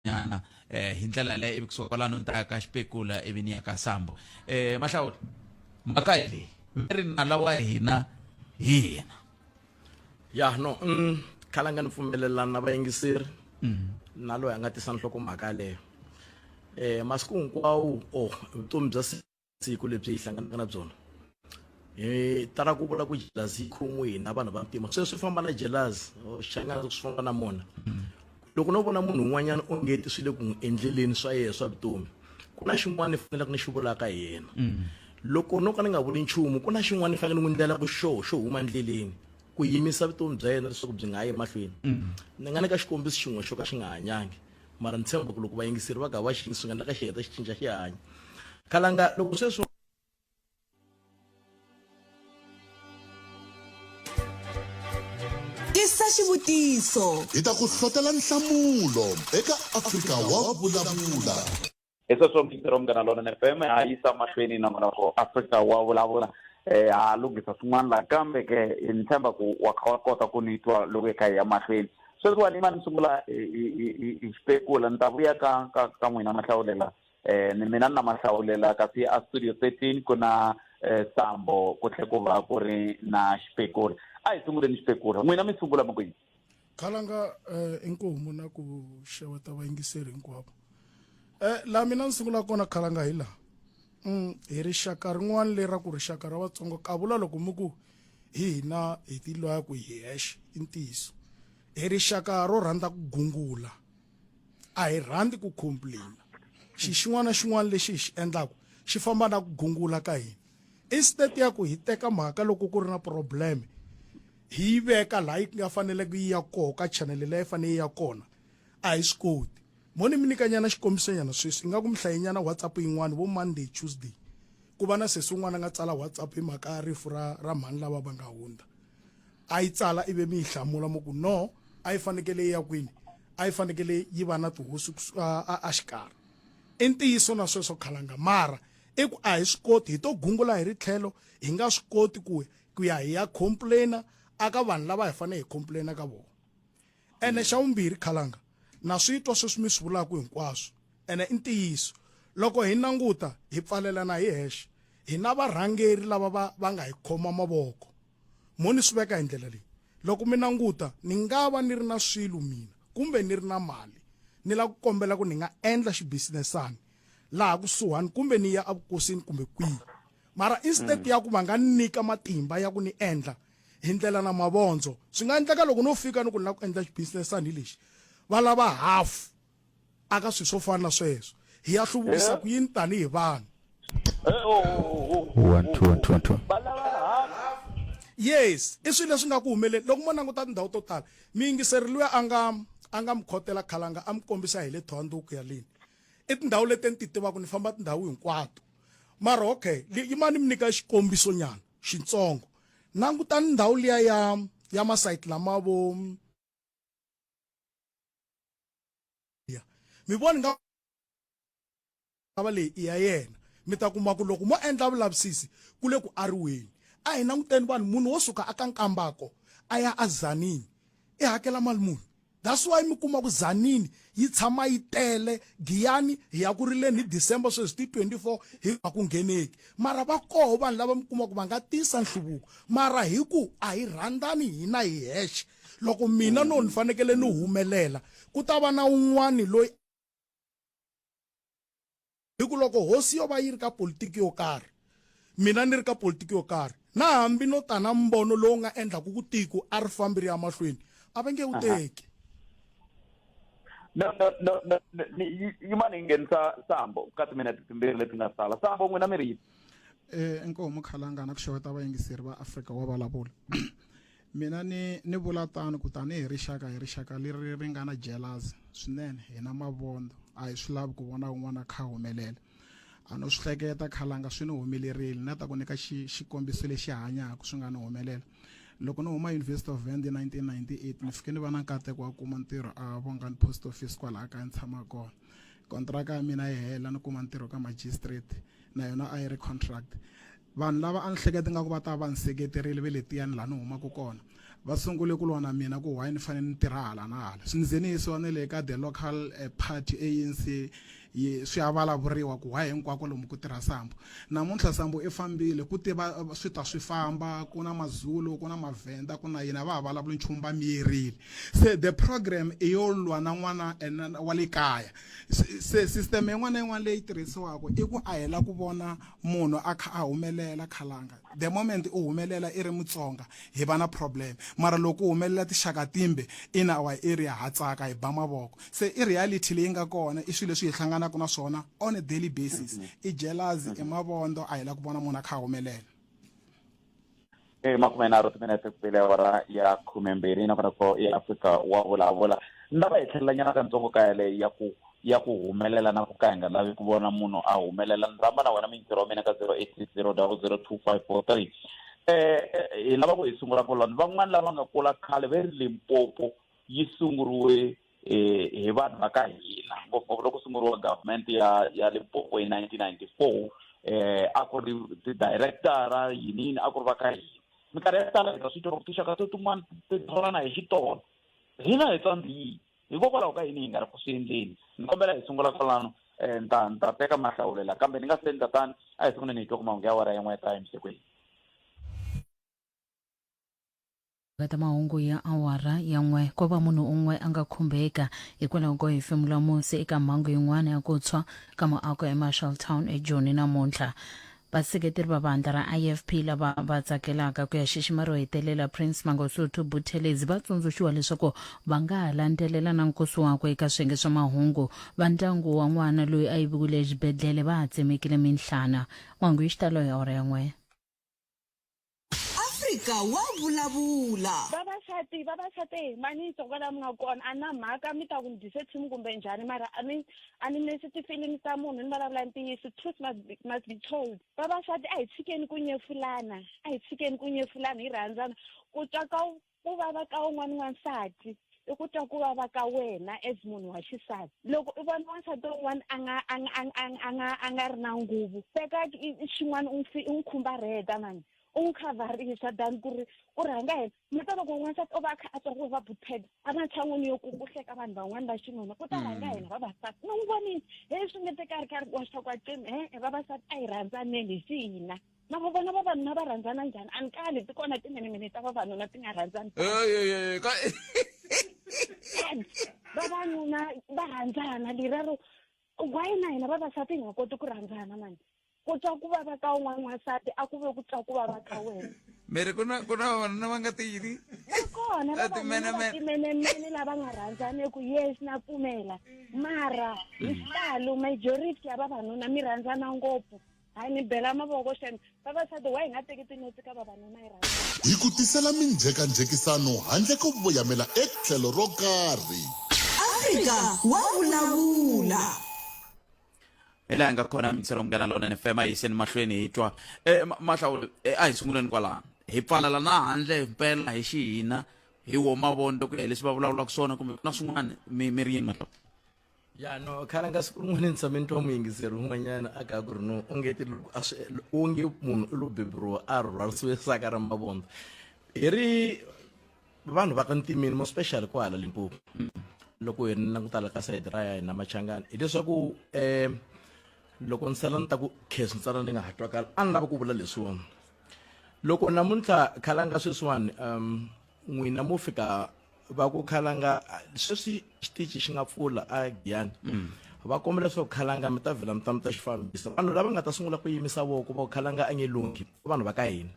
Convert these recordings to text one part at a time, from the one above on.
nyana eh hi ndlela leyo ivi kusuka kwalano ni ta ya ka xipekula ivi ni ya ka sambo eh mahlawula mhaka hi leyi ve ri nala wa hina hi yena ya no mm, khala nga ni pfumelelani na vayingiseri na loyi a nga tisa nhlokomhaka yaleyo um masiku hinkwawo o vutomi bya siku lebyi hi hlanganaka na byona hi tala ku vula ku jelazi yi khomiwe hina vanhu va mpimo sweswi swi famba na jelazi xana swi famba na mona loko no vona munhu un'wanyana ongeti swi le ku n'wi endleleni swa yena swa vutomi ku na xin'wana ni faneleke ni xi vulaka hi yena loko no ka ni nga vuli nchumu ku na xin'wana ni fanele ni n'wi ndlela ku xoho xo huma endleleni ku yimisa vutomi bya yena leswaku byi nga yi emahlweni ni nga nyika xikombiso xin'we xo ka xi nga hanyangi mara ni tshemba ku loko vayingiseri va ka va xi swi nga endleka xi heta xi cinca xi hanya khalanga loko sweswi tisa xivutiso hi ta ku hlotela nhlamulo eka afrika wa vulavula hi sweswo mixero munghana lona ni fm ha yisa mahlweni na n'wana ko afrika wa vulavula um ha lunghisa swin'wana laha kambe ke ni tshemba ku wa kha wa kota ku ni twa loko hi kha hi ya mahlweni sweswiwani ma ni sungula hi spekula ni ta vuya ka ka ka n'wina mahlawulela um ni mina ni na mahlawulela kasi a studio thirteen ku na um sambo ku tlhe ku va ku ri na spekula a hi sunguleni spekula n'wina mi sungula mi ku yini khalanga eh, inkomu na ku xeweta vayingiseri hinkwavo eh, laha mina ni sungula kona khalanga hi laha mm, hi rixaka rin'wana leri ra ku rixaka ra vatsongo ka vula loko mi ku hi hina hi tilwaya ku hi hexe i ntiyiso hi rixaka ro rhandza ku gungula a hi rhandzi ku complaina xi xin'wana na xin'wana lexi hi xi endlaka xi famba na ku gungula ka hina instead ya ku hi teka mhaka loko ku ri na probleme hi yi veka laha yi nga faneleke yi ya koho ka chanele leyi fanele yi ya kona a hi swi koti mo ni mi nyikanyana xikombisonyana sweswi ingaku mi hlayenyana whatsapp yin'wana vo monday tuesday ku va na sesi un'wana a nga tsala whatsapp hi mhaka ya rifu ra ra mhani lava va nga hundza a yi tsala ive mi yi hlamula mo ku no a yi fanekele yi ya kwini a yi fanekele yi va na tihosi a xikarhi i ntiyiso na sweswo khalanga mara i ku a hi swi koti hi to gungula hi ri tlhelo hi nga swi koti ku ku ya hi ya complainer aka vanhu lava hi fanele hi complainer ka vona ene xa vumbirhi khalanga na swi twa sweswi mi swi vulaka hinkwaswo ene i ntiyiso loko hi languta hi pfalelana hi hexe hi na varhangeri lava va va nga hi khoma mavoko mo ni swi veka hi ndlela leyi loko mi languta ni nga va ni ri na swilo mina kumbe ni ri na mali ni lava ku kombela ku ni nga endla xibisinesani laha kusuhani kumbe ni ya evukosini kumbe kwihi mara instead mm. ya ku va nga nyika matimba ya ku ni endla hi ndlela na mavondzo swi nga endleka loko no fika ni ku ni lava ku endla xibusinessani lexi va lava hafu aka swilo swo fana na sweswo hi ya hluvukisa ku yini tanihi vanhu yes i swilo leswi nga ku humeleli loko mo languta tindhawu to tala miyingiseri luya a nga a nga mi khotela khalanga a mi kombisa hi le thohanduku yaleni i tindhawu leti ni ti tivaka ni famba tindhawu hinkwato mara okay yimani mi nyika xikombiso nyana xitsongo langutani ndhawu liya ya ya masayiti lama vo mi voni nga va leyi i ya yena mi ta kuma ku loko mo endla vulavisisi ku le ku ariweni a hi languteni vanhu munhu wo suka a ka nkambako a ya a zanini i hakela mali muni That's why mi kuma ku Tzaneen yi tshama yi tele, Giyani hi ya ku rileni hi December sweswi ti 24 hi nga ku ngheneki. Mara va koho vanhu lava mi kuma ku va nga tisa nhluvuko mara hi ku a hi rhandzani hina hi hexe. Loko mina no ni fanekele ni humelela ku ta va na un'wana loyi. Hi ku loko hosi yo va yi ri ka politiki yo karhi, mina ni ri ka politiki yo karhi, na hambi no ta na mbono lowu nga endlaka ku tiko a ri fambi ri ya mahlweni, a va nge wu teki. No, no, no, no, no, ni- yi- yimani hi nghenisa sambo ka timinete timbirhi leti nga sala sambo n'wina mi ri yini Eh, inkomu Khalangana ku xeweta vayingiseri va Afrika wa Vulavula. mina ni ni vula tano ku tanihi rixaka hi rixaka leri ri nga na jealous swinene hi na mavondo a hi swi lavi ku vona un'wana a kha a humelela a no swi hleketa khalanga swi ni humelerile na ta ku nyika xikombiso lexi hanyaka swi nga ni humelela loko ni huma university of vand 1998 ni fike ni va na nkateko wa kuma ntirho a vongani post office kwalaha kaya ni tshama kona kontraka ya mina yi hela ni kuma ntirho ka magistrate na yona a yi ri contract Vanhu lava a ni hleketa ingaku va ta va ni seketerile ve letiyani laha ni humaka kona va sungule ku lwa na mina ku why ni fanele ni tirha hala na hala swi ni ze ni yisiwa ne le ka the local eh, party anc swi ya vulavuriwa ku why hinkwako lomu ku tirha sambo namuntlha sambo i fambile ku tiva eh, swi ta swi famba ku na mazulu ku na mavhenda ku na yini a va ha vulavuli nchumu va miyerile se the program i yo lwa na n'wana eh, wa le kaya se system yin'wana na yin'wana leyi tirhisiwaka i ku a hela ku vona munhu a kha a humelela khalanga the moment u humelela i ri mutsonga hi va na problem mara loko u humelela tixaka timbe in our area ha tsaka hi ba mavoko se i reality leyi nga kona i swilo leswi hi hlanganaka na swona on a daily basis i jealousy i mavondo a hi la ku vona munhu a kha a humelela e eh, makume nharhu timinete ku pele awara ya khume mbirhi nakona ko i afrika wa vulavula ni lava hi tlhelela nyana ka ntsongo ka yaleyo ya ku ya ku humelela na ku ka hi nga lavi ku vona munhu a humelela ni rhamba na wena mintirho wa mina ka zero eight six zero double zero two five four three um hi lava ku hi sungula koloni van'wani lava nga kula khale ve ri limpopo yi sunguriwe eh, hi vanhu va ka hina ngopfungopfu loko sunguriwa government ya ya limpopo hi 1994 eh a ku ri ti-directora yiniyini a ku ri va ka hina minkarhi ya ku tala hita swi tiva tinxaka to tin'wana ti tholana hi xitolo hina hi tsandziyi hikokwalaho ka yini hi nga ri ku swi endleni ni kombela hi sungula kwalano um ta ni ta teka mahlawulela kambe ni nga se endla tani a hi sunguleni hi twa ku mahungu ya wara yan'we ya ta emisikwini ta mahungu ya awara ya n'we ko va munhu un'we a nga khumbeka hikwalaho ko hefemula musi eka mhangu yin'wana ya ku tshwa ka muako emarshalltown ejoni namuntlha vaseketeri va vandla ra ifp lava va tsakelaka ku ya xixima ro hetelela prince mangosuthu buthelezi va tsundzuxiwa leswaku va nga ha landzelela na nkosi wakwe eka swiyenge swa mahungu va ndyangu wa n'wana loyi a yiviwile exibedhlele va ha tsemekile minhlana mahungu yi xitalo ya ora ya n'we Afrika wa vulavula. Vavasati, vavasati, mani tsoko la mi nga kona, a na mhaka mi ta ku ni dyise team kumbe njhani mara a ni a ni nesi ti-feelings ta munhu ni vulavula ntiyiso, truth must be, must be told. Vavasati a hi tshikeni ku nyefulana, a hi tshikeni ku nyefulana hi rhandzana, ku twa ka ku vava ka un'wana wansati i ku twa ku vava ka wena as munhu wa xisati loko i vona wansati un'wana a nga a nga a nga a nga ri na nguvu teka xin'wana u n'wi u n'wi khumbarheta mani u n'wi khavarisa than ku ri u rhanga yena mi ta loko n'wansati o va a kha a twa ku va butheda a ri na tshan'wini yo ku ku hleka vanhu van'wana va xinuna ku ta mm. rhanga yena vavasati ni n'wi vonile he swi nge te ka ri ka ri wa swa kwacimi e-e vavasati a hi rhandzaneni hi swi hina na vo vona vavanuna va rhandzana njhani a ni kali ti kona timinimini ta vavanuna ti nga rhandzani vavanuna va rhandzana lerero why na hina vavasati hi nga koti ku rhandzana mani ku twa ku vava ka un'wana n'wansati a ku ve ku twa ku vava ka wena miri ku na ku na vavanuna va nga ti yini va kona vavanunatimene lava nga rhandzaneki yes na pfumela mara hi xitalo majority ya vavanuna mi rhandzana ngopfu hayi ni bela mavoko xana vavasati wa hi nga teki tinotsi ka vavanuna yi rhandza Hi ku tisela minjhekanjhekisano handle ko voyamela etlhelo ro karhi. Afrika wa vulavula. hi laha hi nga khona mintsero munghana lona ni fema yiseni mahlweni hi twa e, ma- mahlawuli e, a hi sunguleni kwalano hi pfalala na handle himpela hi xihina hi wo mavoni loko hi ya hi leswi va vulavulaka swona kumbe ku na swin'wana mi mi ri yini mahlawuli ya no khale nga siku rin'wana ni tshame ni twa muyingiseri un'wanyana a ka ku ri no u nge ti loko a swi u nge munhu u lo beburiwa a rhwarisiwe saka ra mavondzo hi ri vanhu va ka ntimini mo special ko hala limpopo loko hi ri langutala ka sayiti ra ya hina machangani hileswaku um loko ni sala ni ta ku khesi ntsana ni nga ha twakala a ni lava ku vula leswiwani loko namuntlha khala nga sweswiwani um n'wina mo fika va ku khalanga sweswi xitichi xi nga pfula a giyani mm. va kombela leswaku khalanga mi ta vhela mi ta mi ta xi fambisa vanhu lava nga ta sungula ku yimisa voko va ku khalanga a nge lunghi vanhu va ka hina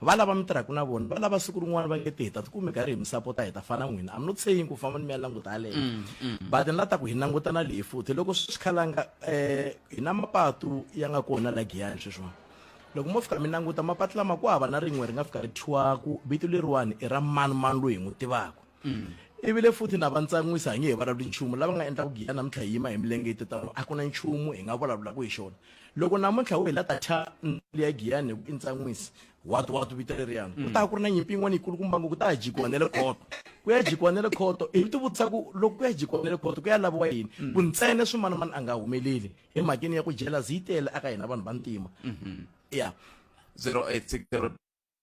va lava mi tirhaka na vona va lava siku rin'wana va ngete hi ta tikume karhi hi mi sapota hi ta fana n'wina am not saying ku famba ni mi ya languta yaleyo mm, mm. but ni la ta ku hi langutana leyi futhi loko swi khalanga um hi na mapatu ya nga kona la giyani sweswiwani loko mo fika mi languta mapatu lama ku hava na rin'we ri nga fika ri thyiwaku vito leriwani i ra mani mani loyi hi n'wi tivaka mm. ivi le futhi na va ntsan'wisa hi nge hi vulavuli nchumu lava nga endla ku giya namuntlha hi yima hi milenge yi titano a ku na nchumu hi nga vulavulaka hi xona loko namuntlha wu hi la ta thya ndli ya giyani hi ku i ntsan'wisi watu watu vito leriyani mm. ku ta ku ri na nyimpi yin'wana yikulu kumba ngo ku ta ya jikiwa ne le khoto ku ya jikiwa ne le khoto hi ti vutisa ku loko ku ya jikiwa ne le khoto ku ya laviwa yini mm. ku ntsene swimanamani a nga humeleli emhakeni ya ku jealous yi tele aka hina vanhu vantima ya 0860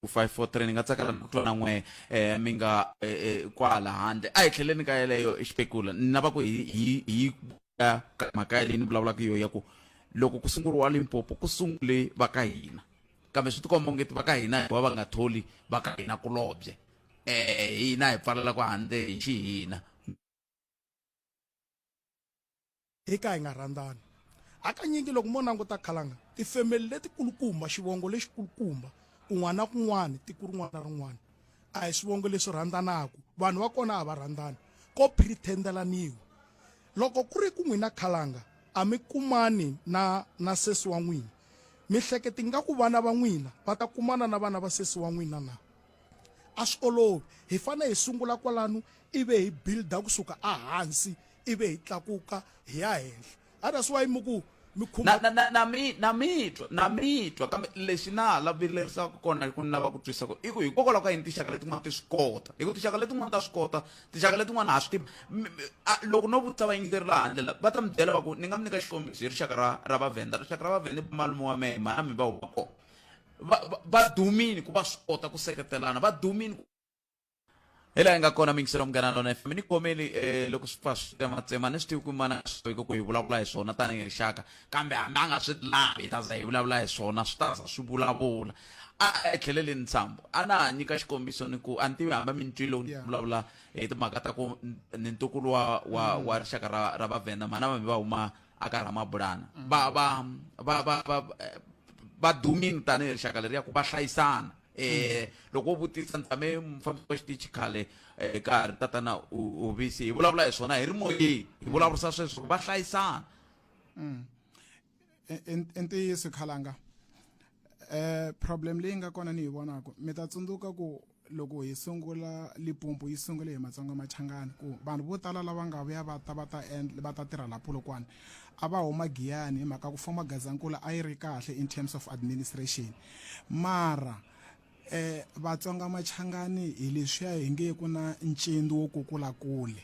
543 ni nga tsakela ni ku twa na n'we eh, mi nga eh, eh, kwala handle a hi tlheleni ka yeleyo xipekula ni lava ku hi hi- hi ka ka mhaka yaleyi ni vulavulaka yo ya ku loko ku sunguriwa limpopo ku sungule va ka hina kambe swi tikomba ongeti va ka hina hikuva va nga tholi va ka hina kulobye eh hina hi pfalela ku handle hi xihina Hi ka hi nga rhandzani. Hakanyingi loko mo languta khalanga, tifemeli letikulukumba, xivongo lexikulukumba, kun'wana na kun'wana, tiko rin'wana na rin'wana, a hi swivongo leswi rhandzanaka. Vanhu va kona a va rhandzani. Ko phiritendelaniwa. Loko ku ri ku n'wina khalanga a mi kumani na, na sesi wa n'wina, mi hleketa ingaku vana va n'wina va ta kumana na vana va sesi wa n'wina na? a swi olovi hi fanele hi sungula kwalano ivi hi builda kusuka ehansi ivi hi tlakuka hi ya henhla a that's why mi ku mi khumba na na na mi na mitwa na mitwa kambe lexi na la vilerisaka kona ku ni lava ku twisa ku i ku hikokwalaho ka yini tinxaka letin'wana ti swi kota hi ku tinxaka letin'wana ta swi kota tinxaka letin'wana ha swi tivi loko no vutisa vayingiseri la handle la va ta mi byela va ku ni nga mi nyika xikombiso hi rixaka ra ra vavhenda rixaka ra vavhenda i malume wa mehe mana mi va huma kona va, va, va dumini ku va swi kota ku seketelana va dumini ku hi laha hi nga kona mingiselo munghana lona fm ni khomeli um eh, loko swi pfa swi tsematsema ni swi tivi ku mana swi ku hi vulavula hi swona tanihi rixaka kambe hambi a nga swi lavi hi ta za hi vulavula hi swona swi ta za swi vulavula a etlheleleni ntsambo a na ha nyika xikombiso ni ku a ni tivi hambi mi ni twile ni vulavula hi timhaka ta ku ni ntukulu wa wa mm. wa rixaka ra ra vavhenda mhana vambi va huma aka ramabulana mm. va va va va va eh, va dumini tanihi rixaka leri ya ku va hlayisana eh loko vutisa ntame mufambisi wa xitichi khale eh, ka ha ri tatana uvisi hi vulavula hi swona hi ri moyeni hi vulavurisa sweswo va hlayisana mm. i ntiyiso khalanga eh problem leyi nga kona ni yi vonaka mi ta tsundzuka ku loko hi sungula lipumpu yi sungule hi matsonga machangani ku vanhu vo tala lava nga vuya va ta va ta endla va ta tirha la polokwane a va huma giyani hi mhaka ku foma gazankula a yi ri kahle in terms of administration mara eh vatsonga machangani hi leswiya hi nge ku na ncindi wo kukula kule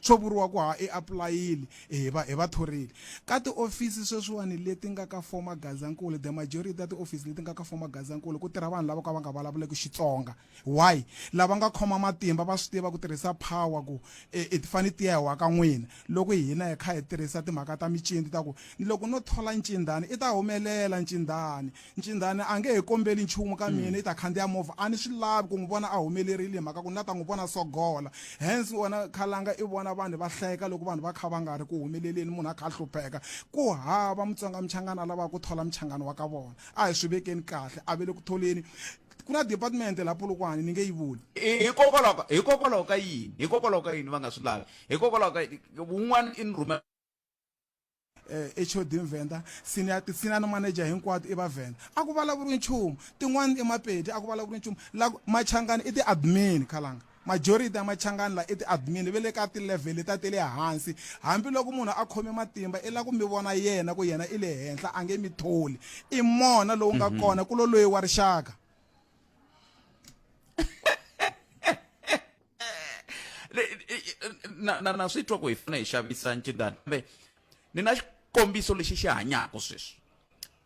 Swo vuriwa ku ha i apulayile, e hi va hi va thorile. Ka tiofisi sweswiwani leti nga ka former Gazankulu, the majority ta tiofisi leti nga ka former Gazankulu ku tirha vanhu lavo ka va nga vulavuleki Xitsonga. Why? Lava nga khoma matimba va swi tiva ku tirhisa power ku e ti fane ti ya hi wa ka n'wina. Loko hina hi kha hi tirhisa timhaka ta mincindi ta ku ni loko no thola ncindani i ta humelela ncindani. Ncindhani a nge hi kombeli nchumu ka mina, i ta khandziya movha. A ni swi lavi ku n'wi vona a humelerile hi mhaka ku ni la ta n'wi vona a sogola. Hence wena Khalanga i vona vanhu va hleka loko vanhu va kha va nga ri ku humeleleni, munhu a kha a hlupheka. Ku hava Mutsonga Muchangana a lavaka ku thola Muchangana wa ka vona. A hi swi vekeni kahle, a va le ku tholeni. Ku na department la Polokwane, ni nge yi vuli. Hikokwalaho ka, hikokwalaho ka yini? Hikokwalaho ka yini va nga swi lavi? Hikokwalaho ka yini? Wun'wana i ni rhumela. HOD Mvenda, Senior Tisina na Manager hinkwato i Vavhenda. A ku vulavuriwi nchumu. Tin'wana i Mapedi, a ku vulavuriwi nchumu. La Machangani i ti-admin, Khalanga. Majority ya Machangani la i ti-admin, ve le ka ti-level letiya te le hansi. Hambi loko munhu a khome matimba i la ku mi vona yena ku yena i le henhla, a nge mi tholi. I mona lowu nga kona, ku lo loyi wa rixaka. Le- i- i- na na na swi twa ku hi fanele hi xavisa ncindani kambe ni na xikombiso lexi xi hanyaka sweswi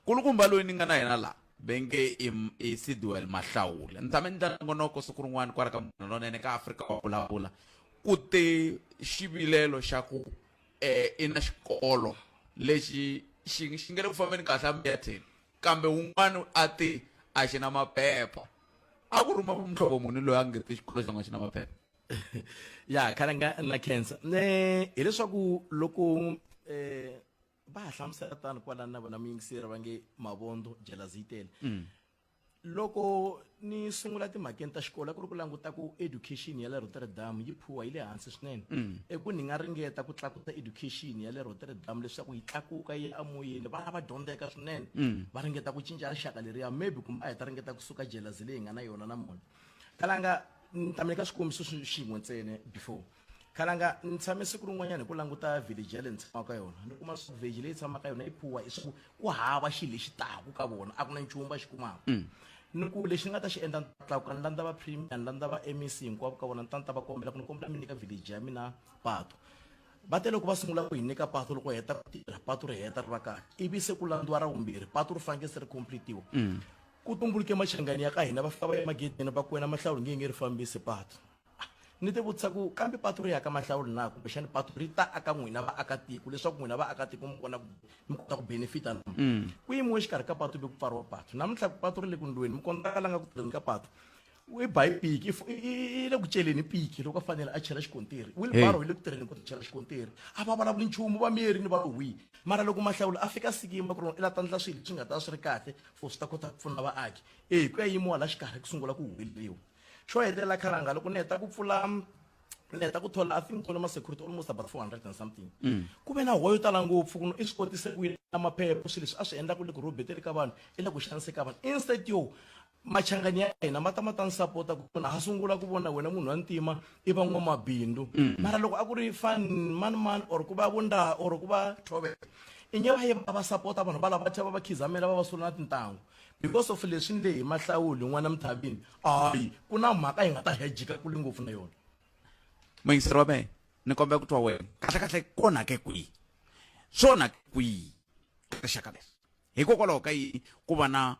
kulukumba loyi ni nga na yena laha venge i M- i sidwell mahlawule ni tshame ni ndla nongonoko siku rin'wana kwala ka munhu lonene ka afrika wa vulavula ku te xivilelo xa ku um i na xikolo lexi xi xi nge le ku fambeni kahle a miyetheni kambe wun'wana a te a xi na maphepha a ku ruma muhlovo muni loyi a nge ti xikolo xan'wana xi na maphepha ya khale nga na cancer ne hileswaku loko um va ha hlamusela tani kwalani na vona muyingiseri va nge mavondo jelaziyitele mm. loko ni sungula timhakeni ta xikolo a ku ri ku languta ku education ya le rotterdam yi phuwa yi le hansi swinene mm. eku ni nga ringeta ku tlakusa education ya le rotterdam leswaku yi tlakuka yi amoyeni vana va dyondzeka swinene mm. va ringeta ku cinca rixaka leriya maybe kumbe a hi ta ringeta ku suka jelazi leyi nga na yona na mona kalanga ni tameka swikombiso swin'we ntsene before khalanga ni tshame siku rin'wanyana hi ku languta village ya le ni tshamaka ka yona ni kuma swa village leyi tshamaka yona yi phuwa i swaku ku hava xilo lexi taku ka vona a ku na nchumu va xi kumaka mm. ni ku lexi ni nga ta xi endla ni tlakuka ni landza va premier ni landza va mec hinkwavo ka vona ni ta ni ta va kombela ku ni kombela mi nyika village ya mina pato va te loko va sungula ku hi nyika pato loko heta ku tirha pato ri heta ri va kahle ivi se ku landziwa ra vumbirhi pato ri fanekele se ri completiwa mm. ku tumbuluke machangani ya ka hina va fika va ya magedeni va ku wena mahlawuli nge nge ri fambisi pato ni ti vutisa ku kambe patu ri ya ka mahlawuli na kumbexani patu ri ta aka n'wina vaakatiko leswaku n'wina vaakatiko mi kona mi kota ku benefita na mm. ku yimiwe exikarhi ka patu ve ku pfariwa patu namuntlha ku patu ri le ku ndlweni mi kona ka la nga ku tirheni ka patu i ba hi piki i le ku celeni piki loko a fanele a chela xikontiri wilbaro hi le ku tirheni ku chela xikontiri a va vulavuli nchumu va miyeri ni va lowi mara loko mahlawulo a fika sikimba ku ri i la ta ndla swilo swi nga ta swi ri kahle for swi ta kota ku pfuna vaaki e hi ku ya yimiwa la xikarhi ku sungula ku humeleriwa xo hetelela khalanga loko ni heta ku pfula ni heta ku thola i think thola ma-security almost about four hundred and something mm. ku ve na huwa yo tala ngopfu ku i swi kotise ku yini na maphepho swilo leswi a swi endla ku le ku robeteli ka vanhu i le ku xaniseka vanhu instead yo machangani ya hina ma ta ma ta ni sapota ku na ha sungula ku vona wena munhu wa ntima i van'wamabindzu mm. mara loko a ku ri fan mani mani or ku va vundaha or ku va thove inge va ye va va sapota vanhu va lava va tlhela va va khizamela va va sula na tintangu because of leswi nge hi mahlawuli n'wana mithavini hayi ku na mhaka yi nga ta hejika kule ngopfu na yona mayingiseri wa mehe ni kombela ku twa wena kahle kahle ku onhake kwihi swi onhake kwihi rixaka leri hikokwalaho ka yini ku va na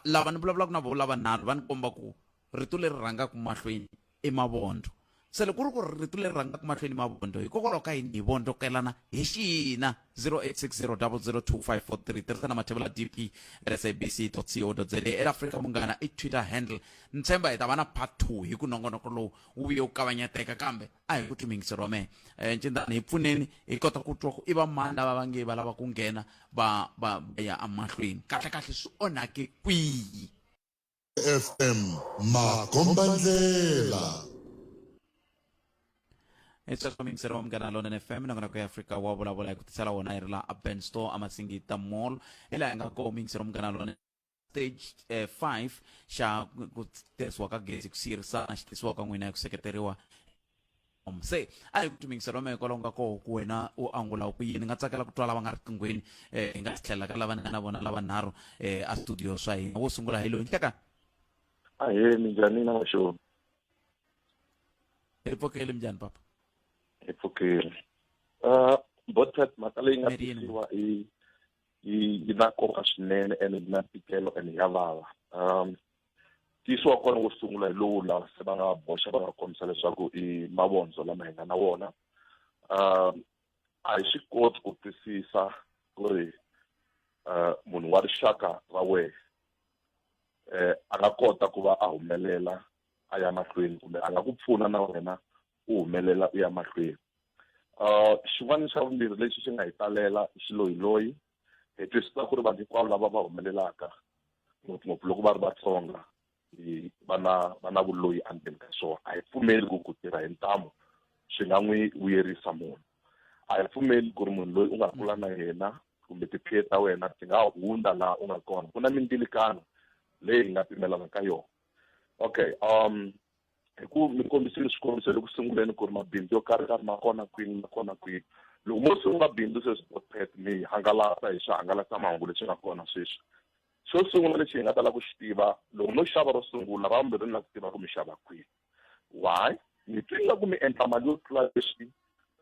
lava ni vulavulaka na vo lavanharhu va ni komba ku rito leri rhangaka mahlweni i mavondho se loko ku ri ku ri rito leri rhangaka mahlweni mavondho hikokwalaho ka yini hi vondzokelana hi xina 0860002543 tirhisana mathevula dp at sabc co za eafrika munghana i twitter handle ni tshemba hi ta va na part two hi ku nongonoko lowu wu vuye wu kavanyeteka kambe a hi ku timhingiseriwa mehe um ncindani hi pfuneni hi kota ku twa ku i va mani lava va nge va lava ku nghena va va ya emahlweni kahlekahle swi onhake kwihi FM Makombandlela. etswaswa mixero wa munghana lonene fm nakona ku ya afrika wa vulavula hi ku tisela wona hi ri la aben store amasingita mall hi laha hi nga koho mixero wa munghana lonene stage eh, 5 xa ku tirhisiwa ka gezi ku siyirisana xi tisiwa ka n'wina hi ku seketeriwa se a hi ku tumingisela wa mehe kwalaho nga koho ku wena u angula ku yini ni nga tsakela ku twa lava nga riqinghweni um hi nga tlhelela ka lava na vona lava nharhu um a studio swa hina wo sungula hi loyi nhleka ahe minjhani na maxoni hi pfukeli minjhani papa hi pfukeli um botat mhaka leyi nga tisiwa i yi na nkoka swinene ene yi na ntikelo ene ya vava um ntiyiso wa kona wo sungula hi lowu lava se va nga boxa va nga kombisa leswaku i mavondzo lama hi nga na wona um a hi swi koti ku twisisa ku ri um munhu wa rixaka ra wehe um a nga kota ku va a humelela a ya mahlweni kumbe a nga ku pfuna na wena u humelela u ya mahlweni um xin'wana xa vumbirhi lexi xi nga hi talela i xiloyiloyi hi twisisa ku ri vanhu hinkwavo lava va humelelaka ngopfungopfu loko va ri vatsonga va na va na vuloyi endzeni ka swona a hi pfumeli ku ku tirha hi ntamu swi nga n'wi vuyerisa munhu a hi pfumeli ku ri munhu loyi u nga kula na yena kumbe tiphiye ta wena ti nga hundza laha u nga kona ku na mindzilikano leyi hi nga pimelana ka yona okay um hi ku mi kombisile swikombiso loku sunguleni ku ri mabindzu yo karhi karhi ma kona kwini ma kona kwini loko mo sungula bindzu sweswi potpet mi hangalasa hi swihangalasamahungu leswi nga kona sweswi xo sungula lexi hi nga tala ku xi tiva loko no xava ro sungula ra vumbirhi ni la ku tiva ku mi xava kwihi why mi twi nga ku mi endla mali yo tlula leswi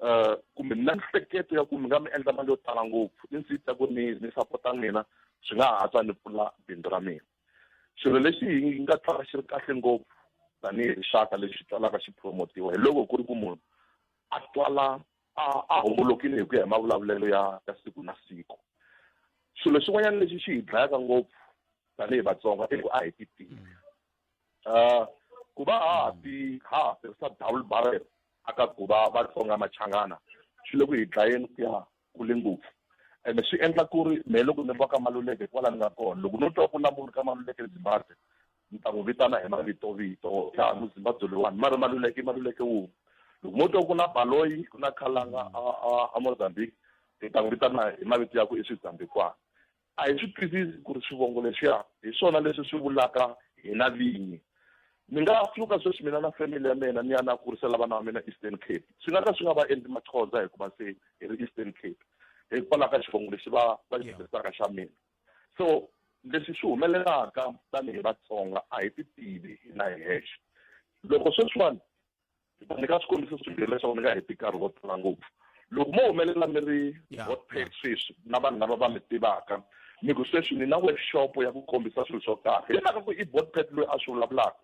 um kumbe mi na nhleketo ya ku mi nga mi endla mali yo tala ngopfu i ndzi ta ku ni ni sapota n'wina swi nga ha tswa ni pfula bindzu ra mina Xilo lexi hi nga twaka xi ri kahle ngopfu tanihi rixaka lexi twalaka xi promotiwa hi loko ku ri ku munhu a twala a a hombolokile hi ku ya hi mavulavulelo ya ya siku na siku. Xilo xin'wanyana lexi xi hi dlayaka ngopfu tanihi Vatsonga i ku a hi ti tivi. Ku va ha ha ti ha ha tirhisa double barrel a ka ku va Vatsonga Machangana swi le ku hi dlayeni ku ya kule ngopfu ene swi endla ku ri mehe loko ni ri va ka maluleke kwala ni nga kona loko no twa ku na munhu ka maluleke zimbabwe ni ta n'wi vitana hi mavitovito ya muzimbabwe loyiwani ma ri maluleke i maluleke wun'we loko mo twa ku na baloyi ku na khalanga a mozambique ni ta n'wi vitana hi mavito ya ku i swizambikwana A hi swi twisisi ku ri swivongo leswiya hi swona leswi swi vulaka hina vinyi. Ni nga pfuka sweswi mina na family ya mina ni ya ni ya kurisela vana va mina Eastern Cape. Swi nga ka swi nga va endli Maxhosa hikuva se hi ri Eastern Cape hikwalaho ka xivongo lexi va va xi tirhisaka xa mina. So leswi swi humelelaka tanihi Vatsonga a hi ti tivi hina hi hexe. Loko sweswiwani ni ta nyika swikombiso swimbirhi leswaku ni nga heti nkarhi wo tala ngopfu loko mo humelela mi ri hot pack sweswi na vanhu lava va mi tivaka mi ku sweswi ni na workshop ya ku kombisa swilo swo karhi hi mhaka ku i bot pack loyi a swi vulavulaka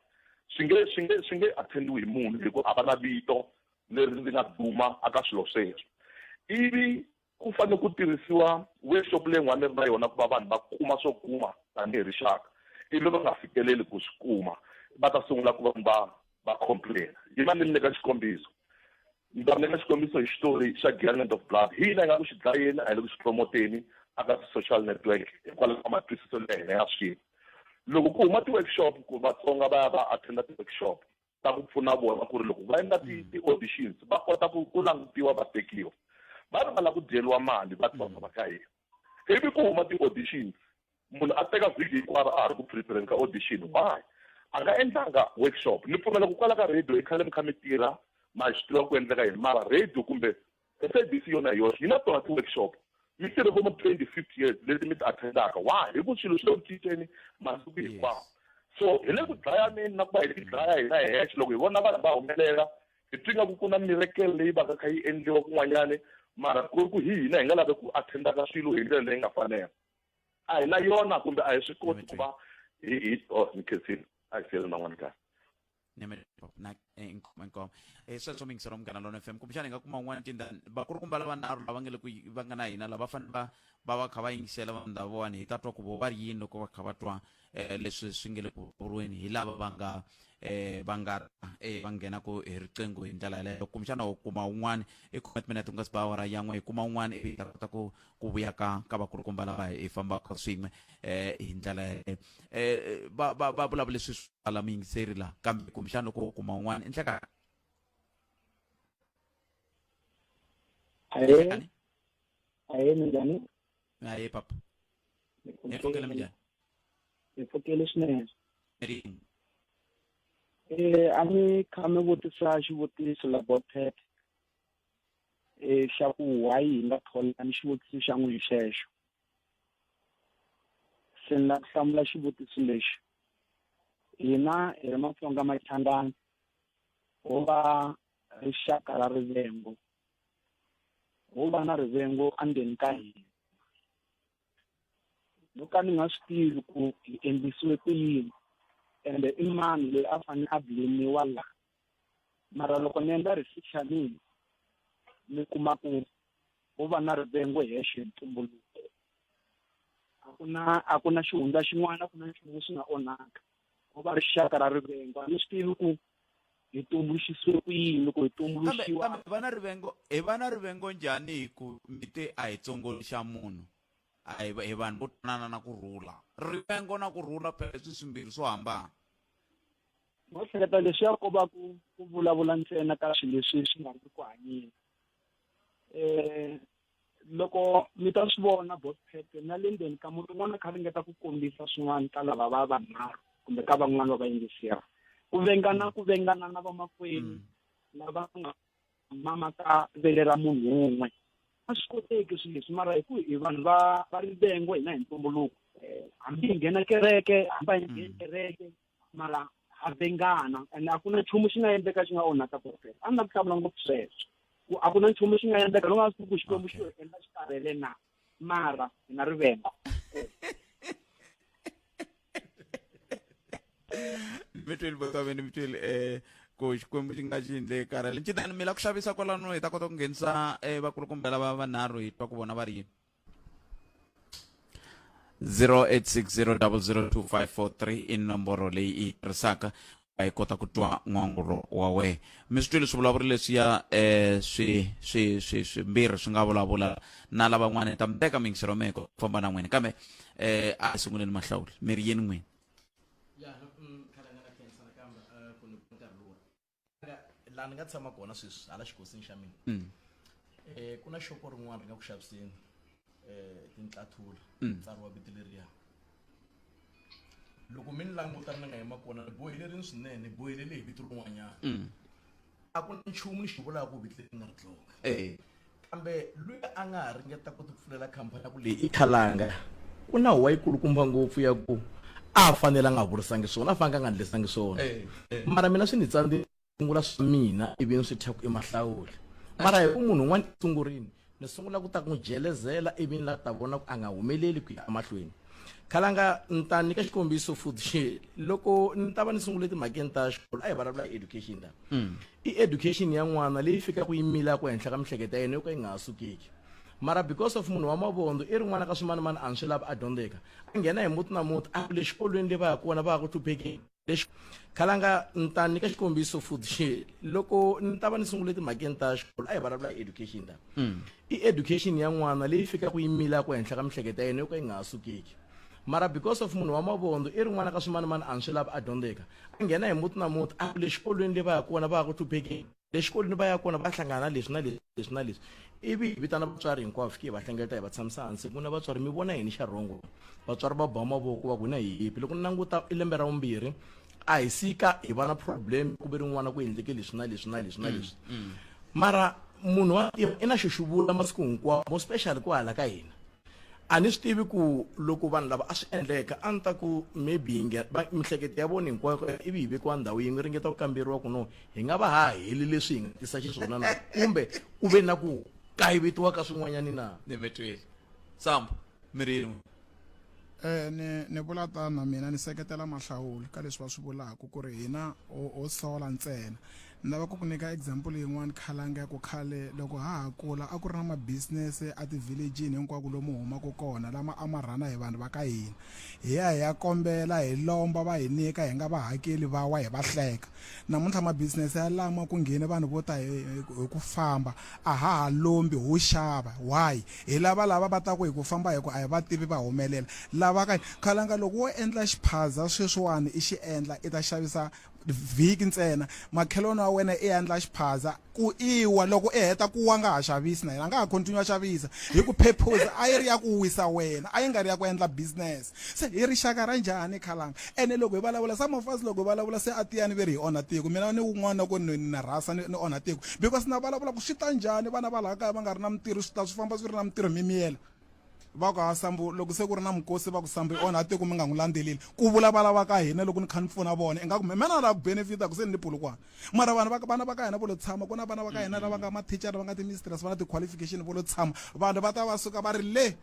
swi nge swi nge swi nge attendiwi hi munhu hikuva a va na vito leri ndzi nga duma aka swilo sweswo ivi Ku fanele ku tirhisiwa workshop leyi nga ni ri na yona ku va vanhu va kuma swo kuma tanihi rixaka ivi va nga fikeleli ku swi kuma va ta sungula ku va va va complain yi va ni mi nyika xikombiso ni ta mi nyika xikombiso hi xitori xa Giant of Blood hi hina hi nga ku xi dlayeni a hi le ku xi promoteni a ka ti-social network hikwalaho ka matwisiselo ya hina ya swilo loko ku huma ti-workshop ku Vatsonga va ya va attend-a ti-workshop ta ku pfuna vona ku ri loko va endla mm. ti-auditions va kota ku ku langutiwa va tekiwa va ri va lava ku dyeriwa mali va tsona va ka hina ivi ku huma ti-auditions munhu a teka vhiki hinkwaro a ha ri ku prepareni ka audition why a nga endlanga workshop ni pfumela ku kwala ka radio i khale mi kha mi tirha ma swi tiva ku endleka yini mara radio kumbe SABC yona hi yoxe yi na tona ti-workshop mi tirhe vo ma 25 years leti mi ti attendaka wa hi ku swilo swi le ku cinceni masiku hinkwawo so hi le ku dlayaneni na ku va hi ti dlaya hina hi hexe loko hi vona vanhu va humelela hi twi nga ku ku na mirekele leyi va ka kha yi endliwa kun'wanyani mara ku ri ku hi hina hi nga lavi ku attendaka swilo hi ndlela leyi nga fanela a hi na yona kumbe a hi swi koti ku va hi hi oh ni khensile a hi siyele man'wana kahle nyamela na inkomo inkomo eh sweswo mi ngisero munghana lona fm kumbexana hi nga kuma un'wana tindhani vakulukumba lava nharhu lava nge le ku va nga na hina lava va fanele va va va kha va yingisela va ndhavuwani hi ta twa ku vo va ri yini loko va kha va twa eh leswi swi nge le ku vuriweni hi lava va nga eh va nga eh va nghenaka hi riqingho hi ndlela yaleyo kumbexana u kuma un'wana i comment minute u nga si ba awara yan'we hi kuma un'wana ivi hi ta kota ku ku vuya ka ka vakulukumba lava hi fambaka swin'we eh hi ndlela yaleyo eh va va va vulavula leswi swi ala miyingiseri laha kambe kumbexana loko u kuma un'wana i ndleka ahee ahee minjhani ahee papa ni pfukela minjhani ni pfukele swinene rini eh a ni kha mi vutisa xivutiso la botet e xa ku why hi nga thola ni xivutiso xa n'wi xexo se ni la ku hlamula xivutiso lexi hina hi ri matsonga machangani ho va rixaka ra rivengo ho va na rivengo andzeni ka hina no ka ni nga swi tivi ku hi endlisiwe ku yini ende i mani loyi a fanele a blemiwa la mara loko ni endla research ya mina ni kuma ku ku va na rivengo hexe hi ntumbuluko a ku na a ku na xihundla xin'wana a ku na nchumu xi nga onhaka ku va rixaka ra rivengo a ni swi tivi ku hi tumbuluxisiwe ku yini loko hi tumbuluxiwa kambe vana rivengo hi vana rivengo njhani hi ku mi te a hi tsongoli xa munhu a hi hi vanhu vo twanana na ku rhula rivengo na ku rhula phela swi swimbirhi swo hambana no hleketa leswi ya koba ku ku vulavula ntsena ka swilo leswi swi nga ri ku hanyeni um loko mi ta swi vona bospete na le ndzeni ka munhu un'wana kha ringeta ku kombisa swin'wana ka lava va vanharhu kumbe ka van'wana va vayingiseri ku vengana ku vengana na vamakwenu mm. lava ku nga mama ka vele ra munhu un'we a swi koteki swilo leswi mara hi ku hi vanhu va va rivengo hina hi ntumbuluko eh, hambi hi nghena kereke hambi hi ngheni mm. kereke mara ha vengana and a ku na nchumu xi nga endleka xi nga onhaka profesa a ni la ku hlamula ngopfu sweswo ku a ku na nchumu xi nga endleka loko a swi ku xikwembu xi endla xi karhele na mara hi na rivengo mi tweli boto wa mina mi tweli um eh, ku xikwembu xi nga xi endle karhele ncitani mi la ku xavisa kwalano hi ta kota ku nghenisa um eh, vakulukumba lava vanharhu hi twa ku vona va ri yini 0860002543 i nomboro leyi i yi tirhisaka a yi kota ku twa n'wangulo wa wena mi swi twile swivulavuri leswiya eh swi swi swi swimbirhi swi nga vulavula na lavan'wana hi ta mi teka mingisero meko ku famba na n'wina kambe eh a hi sunguleni mahlawuli mi ri yini n'wini ya no mm, khala nga na khensa nakambe eh, ku ni nkarhi luwa laha ni nga tshama kona sweswi hala xikosini xa mina um mm. eh, ku na xopo rin'wana ri nga ku xaviseni um eh, tintlathula mm. tsariwa vito leriya loko mi ni languta ni nga yima kona ni bohelerini swinene ni bohelele hi vito rin'wanyana mm. a ku na nchumu ni xi vulaka ku vito leri nga ri dloka eh. kambe loyi a nga ha ringeta ku tipfulela khampani ya ku leyi i khalanga ku na huwa yikulukumba ngopfu ya ku a a fanele a nga vurisangi swona a fanele a nga ndlesangi swona eh, eh. mara mina swi ni tsandze sungula swa mina ivi ni swi thya ku i mahlawuli mara hi ku munhu un'wana esungurini ni sungula ku ta ku n'wi jelezela ivi ni la ta vona ku a nga humeleli ku ya emahlweni khalanga ni ta nyika xikombiso futhi loko ni ta va ni sungule timhakeni ta xikolo a hi vulavula hi education ta mm. i education ya n'wana leyi fikaka yi milaka henhla ka mihleketo ya yena yo ka yi nga ha sukeki mara because of munhu wa mavondo i rin'wana ka swimanimani a ni swi lava a dyondzeka a nghena hi muti na muti a le xikolweni leyi va ya kona va ya ku hluphekeni lexi khalanga ni ta nyika xikombiso futhi loko ni ta va ni sungule timhakeni ta xikolo a hi vulavula hi education ta mm. i education ya n'wana leyi fikaka yi milaka henhla ka mihleketo ya yena yo ka yi nga ha sukeki mara because of munhu wa mavondo i rin'wana ka swimanimani a ni swi lava a dyondzeka a nghena hi muti na muti a ku le xikolweni le va ya kona va ya ku hluphekeni le xikolweni va ya kona va hlangana leswi na leswi leswi na leswi ivi hi vitana vatswari hinkwavo fike hi va hlengeleta hi va tshamisa hansi ku na vatswari mi vona yini xa rhongo vatswari va ba mavoko va ku na hi yipi loko ni languta i lembe ra vumbirhi a hi sika hi va na problem ku ve rin'wana ku endleke leswi na leswi na leswi na leswi mara munhu wa i na xo xi vula masiku hinkwawo mo special ku hala ka hina a ni swi tivi ku loko vanhu lava a swi endleka a ni ta ku maybe hi nge- va- mihleketo ya vona hinkwayo ivi hi vekiwa ndhawu yin'we ringeta ku kamberiwa ku no hi nga va ha heli leswi hi nga tisa xiswona na kumbe ku ve na ku kayivetiwa ka swin'wanyani na ni mi twile sambo mi ri yini Eh ni ni vula tano mina ni seketela mahlawuli ka leswi va swi vulaka ku ri hina ho ho sola ntsena Ni lava ku ku nyika example yin'wana khalanga ya ku khale loko ha ha kula a ku ri na ma business a ti village-ini hinkwako lomu humaka kona lama a ma rhana hi vanhu va ka hina hi ya hi ya kombela hi lomba va hi nyika hi nga va hakeli va wa hi va hleka namuntlha ma business ya lama ku nghene vanhu vo ta hi hi ku famba a ha ha lombi ho xava why hi lava lava va ta ku hi ku famba hi ku a hi va tivi va humelela lava ka khalanga loko wo endla xiphaza sweswiwani i xi endla i ta xavisa vhiki ntsena makhelwani wa wena i endla xiphaza ku iwa loko i heta ku wa nga ha xavisi na yena a nga ha continue a xavisa hi ku purpose a yi ri ya ku wisa wena a yi nga ri ya ku endla business se hi rixaka ra njhani khalanga ene loko hi vulavula some of us loko hi vulavula se a tiyani ve ri hi onha tiko mina ni wun'wana ku ni na rhasa ni onha tiko because na vulavula ku swi ta njhani vana va laha kaya va nga ri na mintirho swi ta swi famba swi ri na mintirho mimiyela va ku hasambu loko se ku ri na mukosi va ku sambu i onha tiko mi nga n'wi landzeleli ku vula va lava ka hina loko ni kha ni pfuna vona ingaku mina na lava ku benefita ku se ni ni pulukwana mara vanhu vana va ka hina vo lo tshama ku na vana va ka hina lava nga mathicara va nga ti-mistress va na ti-qualification vo lo tshama vanhu va ta va suka va ri le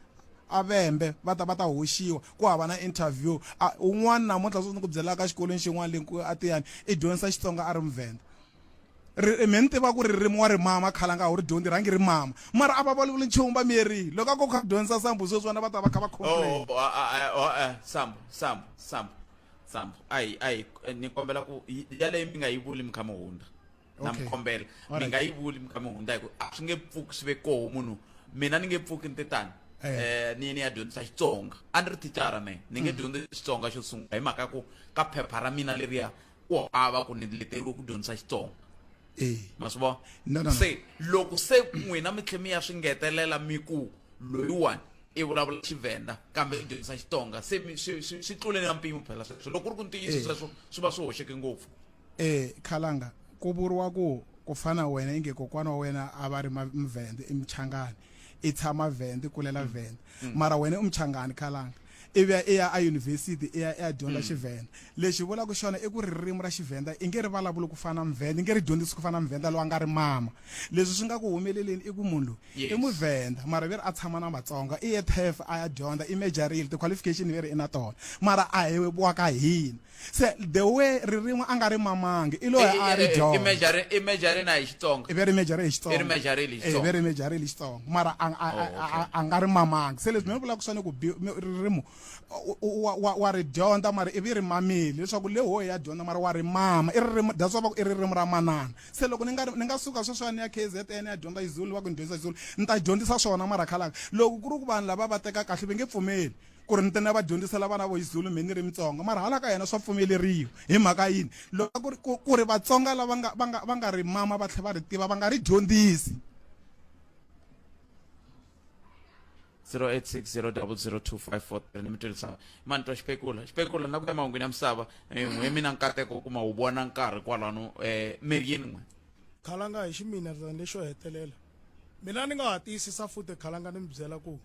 avembe va ta va ta hoxiwa ku hava na interview un'wana namuntlha swi ni ku byelaka xikolweni xin'wana le atiyani i dyondzisa xitsonga a ri muvhenda mi ni tiva ku ririmi wa ri mama khale a nga wu ri dyondzi rhangi ri mama mara a va vulavuli nchumu va miyerile loko a ko kha dyondzisa sambu sweswi vana va ta va kha va complain oh, oh, oh, eh, sambu sambu sambu sambu ayi ayi eh, ni kombela ku yaleyi mi nga yi vuli mi kha mi hundza na mi kombela mi nga yi vuli mi kha mi hundza hi ku a swi nge pfuki swi ve koho munhu mina ni nge pfuki ni te tani um eh. ni ni ya dyondzisa xitsonga a ni ri thicara me ni nge mm. dyondzi xitsonga xo sungula hi mhaka ya ku ka phepha ra mina leriya u hava ku ni leteriwe ku dyondzisa xitsonga eh. ma swi vona no, no, no. se loko se n'wina mi tlhe mi ya swi ngetelela mi ku loyiwani i vulavula xivenda kambe i dyondzisa xitsonga se swi tlule na mpimo phela sweswo loko ku ri ku ntiyiso eh. sweswo swi va swi hoxeke ngopfu e khalanga ku vuriwa ku ku fana wena inge kokwana wa wena a va ri mvende i michangani i tshama venda i kulela mm. venda mm. mara wena i muchangani khalanga i vuya i ya eyunivhesiti i ya i ya dyondza mm. xivhenda lexi vulaka xona i ku ririmi ra xivhenda i nge ri vulavuli ku fana muvhenda i nge ri dyondzisi ku fana muvhenda loyi a nga ri mama leswi swi nga ku humeleleni i ku munhu loyi i muvhenda mara ve ri a tshama na vatsonga i ye tef a ya dyondza i majorile ti-qualification ve ri i na tona mara a hi wa ka hina se the way ririmi a nga ri mamangi i loyi a ri dyondza i mejarena hi xitsonga i ve ri mejare hi xitsonga i ri mejare hi xitsonga i ve ri mejare hi xitsonga mara a oh, a nga ri mamangi se leswi mina vulaka swona ku ririmi wa wa wa ri dyondza mara i vi ri mamile leswaku le hoyi ya dyondza mara wa ri mama i ririmi that's why va ku i ririmi ra manana se loko ni nga ni nga suka sweswiwa ni ya KZN ya dyondza Zulu va ku ni dyondzisa Zulu ni ta dyondzisa swona mara khalaka loko ku ri ku vanhu lava va teka kahle va nge pfumeli ku ri ni tena va dyondzisela vana vo xizulu mhe ni ri mitsonga mara hala ka yena swa pfumeleriwa hi mhaka yini loko ku ri ku ri vatsonga lava nga va nga va nga ri mama va tlhela va ri tiva va nga ri dyondzisi 0860002543 ni mi tirhisaka mani twa xipekula xipekula na ku ya mahungwini ya misava eh, n'we mina nkateko u kuma wu vona nkarhi kwalano um eh, mirini n'we khalanga hi ximina rirani lexo hetelela mina ni nga ha tiyisisa futhi khalanga ni mi byela ku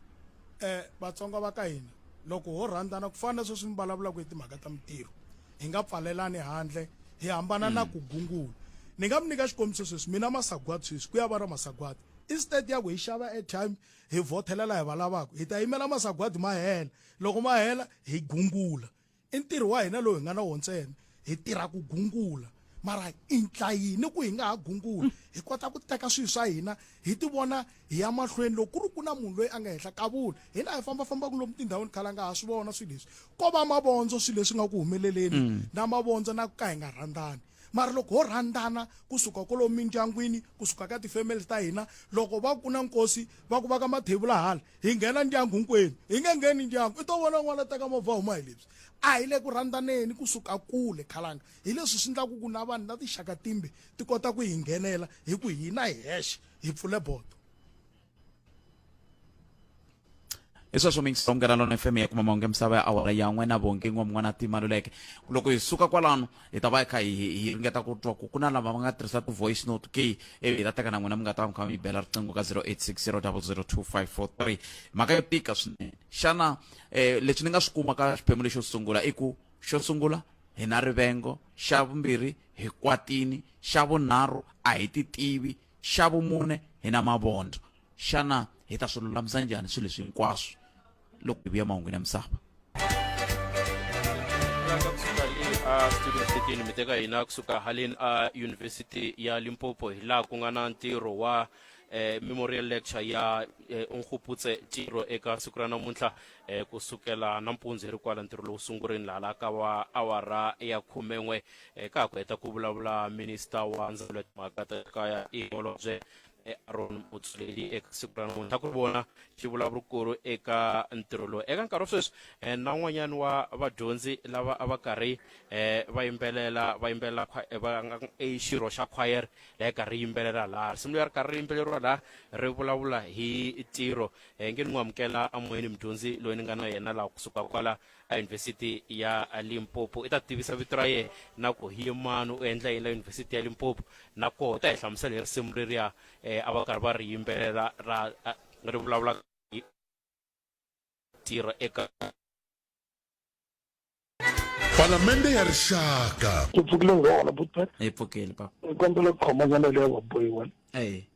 um vatsonga va ka hina loko ho rhandzana ku fana na sweswi mi vulavulaka hi timhaka ta mintirho hi nga pfalelani handle hi hambana na ku gungula ni nga mi nyika xikombiso sweswi mina masagwadi sweswi ku ya va ra masagwadi instead ya ku hi xava airtime hi vothelela hi va lavaka hi ta yimela masagwadi ma hela loko ma hela hi gungula I ntirho wa hina lowu hi nga na wo ntsena. Hi tirha ku gungula. Mara i ndla yini ku hi nga ha gunguli, hi kota ku teka swilo swa hina hi ti vona hi ya mahlweni? Loko ku ri ku na munhu loyi a nga henhla ka vula, hina hi famba-fambaka lomu tindhawini khale a nga ha swi vona swilo leswi. Ko va mavondzo swilo leswi nga ku humeleleni, na mavondzo na ku ka hi nga rhandzani. Mara loko ho rhandzana ku suka kwalomu mindyangwini, ku suka ka ti-families ta hina, loko va ku ku na nkosi, va ku vaka mathevula hala, hi nghena ndyangu hinkwenu hi nge ngheni ndyangu i to vona n'wana teka movha huma hi lebyi a hi le ku rhanddaneni kusuka kule khalanga hi leswi swi endlaku ku na vanhu na tixaka timbe ti kota ku hi nghenela hi ku hina hi hexe hi pfule bodo i sweswo mingisongo ra lona fm ya kuma mahungu ya misava ya awara yan'we na vonge n'we mun'wana a timaluleke loko hi suka kwalano hi ta va hi kha hi hi ringeta ku twa ku ku na lava va nga tirhisa ti-voice note ke ivi hi ta teka na n'wina mi nga ta va mi kha mi bela riqingho ka 0860002543 mhaka yo tika swinene xana um leswi ni nga swi kuma ka xiphemu lexo sungula i ku xo sungula hi na rivengo xa vumbirhi hi kwatini xa vunharhu a hi ti tivi Xa vumune, hi na mavondzo. Xana hi ta swi lulamisa njhani swilo leswi hinkwaswo loko hi vuya mahungwini ya misava? a studio station mi teka hina kusuka haleni a yunivhesiti ya limpopo hi laha ku nga na ntirho wa eh, memorial lecture ya eh, unkguputse tiro eka siku ra namuntlha eh, kusukela nampundzu hi ri kwala ntirho lowu sungurini laha la ka wa awara ya khumen'we E, ka ha ku heta ku vulavula minista wa ndzawulo ya timhaka ta kaya i holobye e, aron mutsuleli eka siku ra namuntlha ku ri vona xivulavurikulu eka ntirho lowu eka nkarhi wa sweswi e, na un'wanyana wa vadyondzi lava a va karhi e, va yimbelela va yimbelela khwa- e, va nga i xirho xa khwayere leyi karhi yimbelela laha risimu leri karhi ri yimbeleriwa laha ri vulavula hi ntirho e, nge ni n'wi amukela amoyeni mudyondzi loyi ni nga na yena laha kusuka kwala a yunivhesiti ya limpopo i ta tivisa vito ra yena na ku hi mani u endla yini la yunivhesiti ya limpopo na koho ta hi hlamusela hi risimu leriya um a va karhi va ri yimbelela ra ri vulavula tirha eka palamende ya rixaka ku pfukile nghana butpet hi pfukile papa ni kombela ku khomanyana leyi ya vabohiwa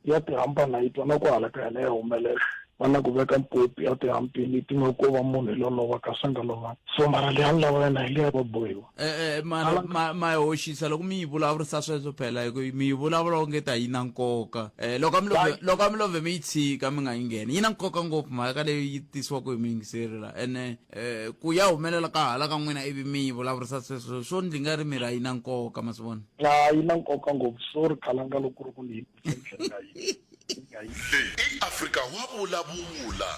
ya tihampa na yi twa na ku halakaya na ya humelela va na ku veka mpopi ya tihampini ti nga ko va munhu hi lolova kasi a nga lovanga so mara leyi a ni lava yena hi leyi va bohiwa e-e ma yi hoxisa loko mi yi vulavurisa sweswo phela hi ku mi yi vulavula onge ta yi na nkoka um loko a mi love mi yi tshika mi nga yi ngheni yi na nkoka ngopfu mhaka leyi yi tisiwaka hi muyingiseri la ene Eh, ku ya humelela ka hala ka n'wina ivi mi yi vulavurisa sweswo swo ndzi nga ri mi ra yi na nkoka ma swi vona a yi na nkoka ngopfu so ri khalanga loko ri ku ni yi nga yi nga yi leyi i afrika wa vulavula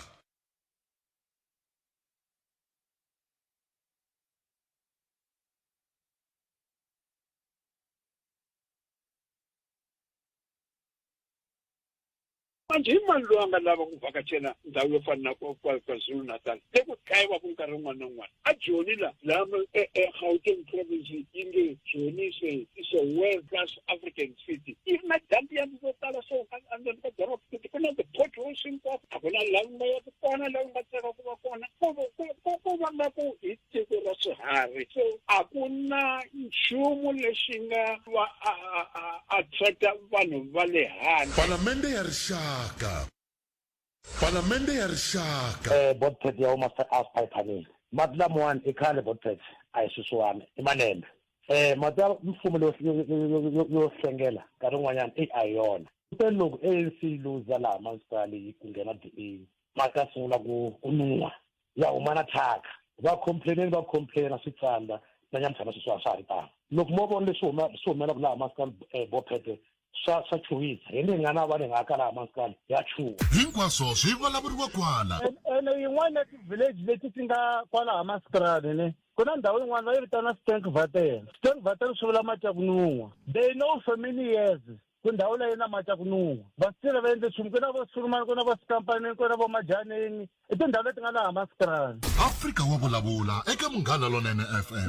Manje, i mani loyi a nga lava ku vhakachela ndhawu yo fana na kwa, kwa, KwaZulu-Natal le ku dlayiwa ku nkarhi wun'wana na wun'wana? A Joni la, laha ma- e- eGauteng province yi nge Joni is a, is a world class African city. Yi ri na dumpiyanti to tala so a- endzeni ka doroba futhi ku na ti-potholes hinkwako. A ku na laha u nga yaka kona, laha u nga tsaka ku va kona. Ko va- ko- ko- ko va nga ku hi tiko ra swiharhi so a ku na nchumu lexi nga va attract-a vanhu va le handle palamende ya rixaka palamende ya rixaka um eh, botpet ya huma south piphanile mati lamawani i khale botpet a hi swisiwani i malembe um mati ya mfumo yo hlengela nkarhi wun'wanyana eyi a hi yona kute loko anc yi luza laha municipali yi ku nghena d a mati ya sungula ku ku nuwa ya huma na thyaka va complaineni va complaina swi tsandza na nyamutlha na sweswi a swa ha ri tano loko mo vona leswi huma swi humelaka laha maskani eh, bophete swa swa chuwisa hi ni nga na va ni nga ka laha maskani ya chuwa hinkwaswo swi vulavuriwa kwala ene yin'wana ya ti-village leti ti nga kwalaha maskrani ne ku na ndhawu yin'wana va yi vitana stank vatel stank vatel swi vula mati ya ku nun'wa they know for many years ku ndhawu leyi na mati ya ku nun'wa vasitile va endle nchumu ku na vo sulumani ku na vo sikampanini ku na vo majanini i tindhawu leti nga laha masitirani afrika wa vulavula eka munghana lonene fm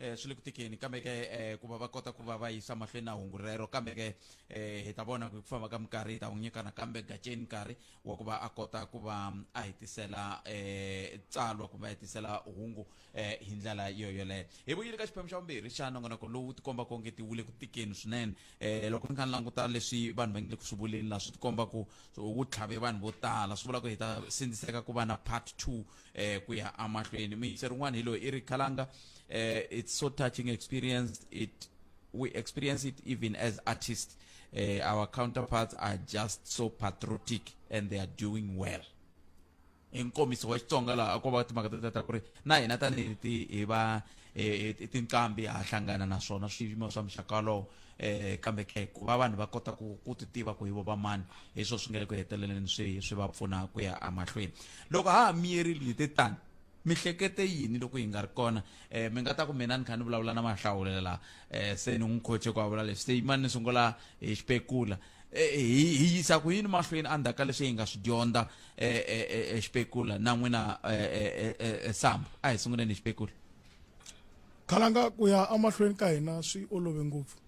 eh swi le ku tikeni kambe ke eh ku va va kota ku va va yisa mahlweni na hungu rero kambe ke eh hi ta vona ku famba ka minkarhi hi ta n'wi nyika nakambe gaceni nkarhi wa ku va a kota ku va a hetisela eh tsalwa kumbe a hetisela hungu eh hi ndlela yo yoleyo hi vuyile ka xiphemu xa vumbirhi xa nongonoko lowu tikomba ku onge ti wule ku tikeni swinene eh loko ni kha ni languta leswi vanhu va nge le ku swi vuleni laha swi tikomba ku wu tlhave vanhu vo tala swi vula ku hi ta sindziseka ku va na part two eh ku ya amahlweni miyingiseri un'wana hi loyi i ri khalanga eh it's so touching experience it we experience it even as artists eh our counterparts are just so patriotic and they are doing well hi nkomiso wa xitsonga laha a ko va timhaka ta ta ku ri na hina tanihi ti hi va e, e, tinqambi ha hlangana na swona swiyimo swa muxaka walowo um kambe ke ku va vanhu va kota ku ku ti tiva ku hi vo va mani hi swona swi nga le ku heteleleni swi swi va pfuna ku ya emahlweni loko ha ha miyerile hi te tani mihlekete yini loko yi nga ri kona um mi nga ta ku mina ni kha ni vulavula na mahlawulela laha um se ni n'wi khoche ku a vula leswi se yimani ni sungula hi xipekula Eh, eh, hi hi yisa ku yini mahlweni endzhaku ka leswi hi nga swi dyondza exipekula eh, na n'wina samba a hi sunguleni hi xipekula khalanga ku ya emahlweni ka hina swi olove ngopfu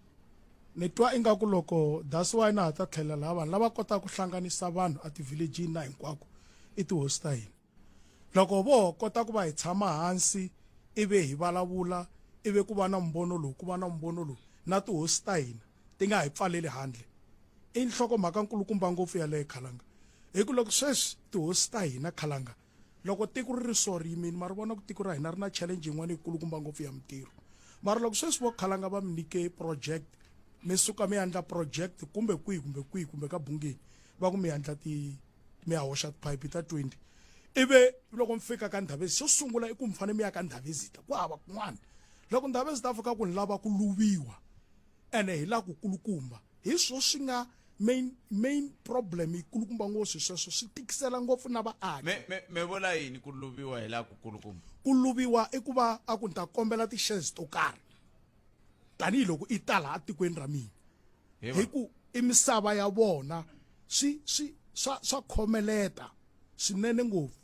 ni twa ingaku loko that's why na ha ta tlhela laha vanhu lava kotaka ku hlanganisa vanhu a ti-villagini na hinkwako i tihosi ta hina loko vo kota ku va hi tshama hansi ivi hi vulavula ivi ku va na mumbono lowu ku va na mumbono lowu na tihosi ta hina ti nga hi pfaleli handle i nhlokomhaka nkulukumba ngopfu yaleyo khalanga hi ku loko sweswi tihosi ta hina khalanga loko tiko ri ri so ri yimini ma ri vona ku tiko ra hina ri na challenge yin'wana yikulukumba ngopfu ya mintirho mara loko sweswi vo khalanga va mi nyike project mi suka mi yandla project kumbe kwihi kumbe kwihi kumbe ka bungeni va ku mi yandla ti mi ya hoxa tiphayiphi ta 20 ivi loko mi fika ka ndhavezi xo sungula i ku mi fanele mi ya ka ndhavezita ku hava kun'wana loko ndhavezita a fika ku ni lava ku luviwa ene hi la ku kulukumba hi swo swi nga main main problem ikulukumba ngo swi sweswo swi tikisela ngopfu na vaaki me me me vula yini ku luviwa hi la ku kulukumba ku luviwa i ku va a ku ni ta kombela ti-shares to karhi tanihiloko i ta laha tikweni ra mina hi ku i misava ya vona swi swi swa swa khomeleta swinene ngopfu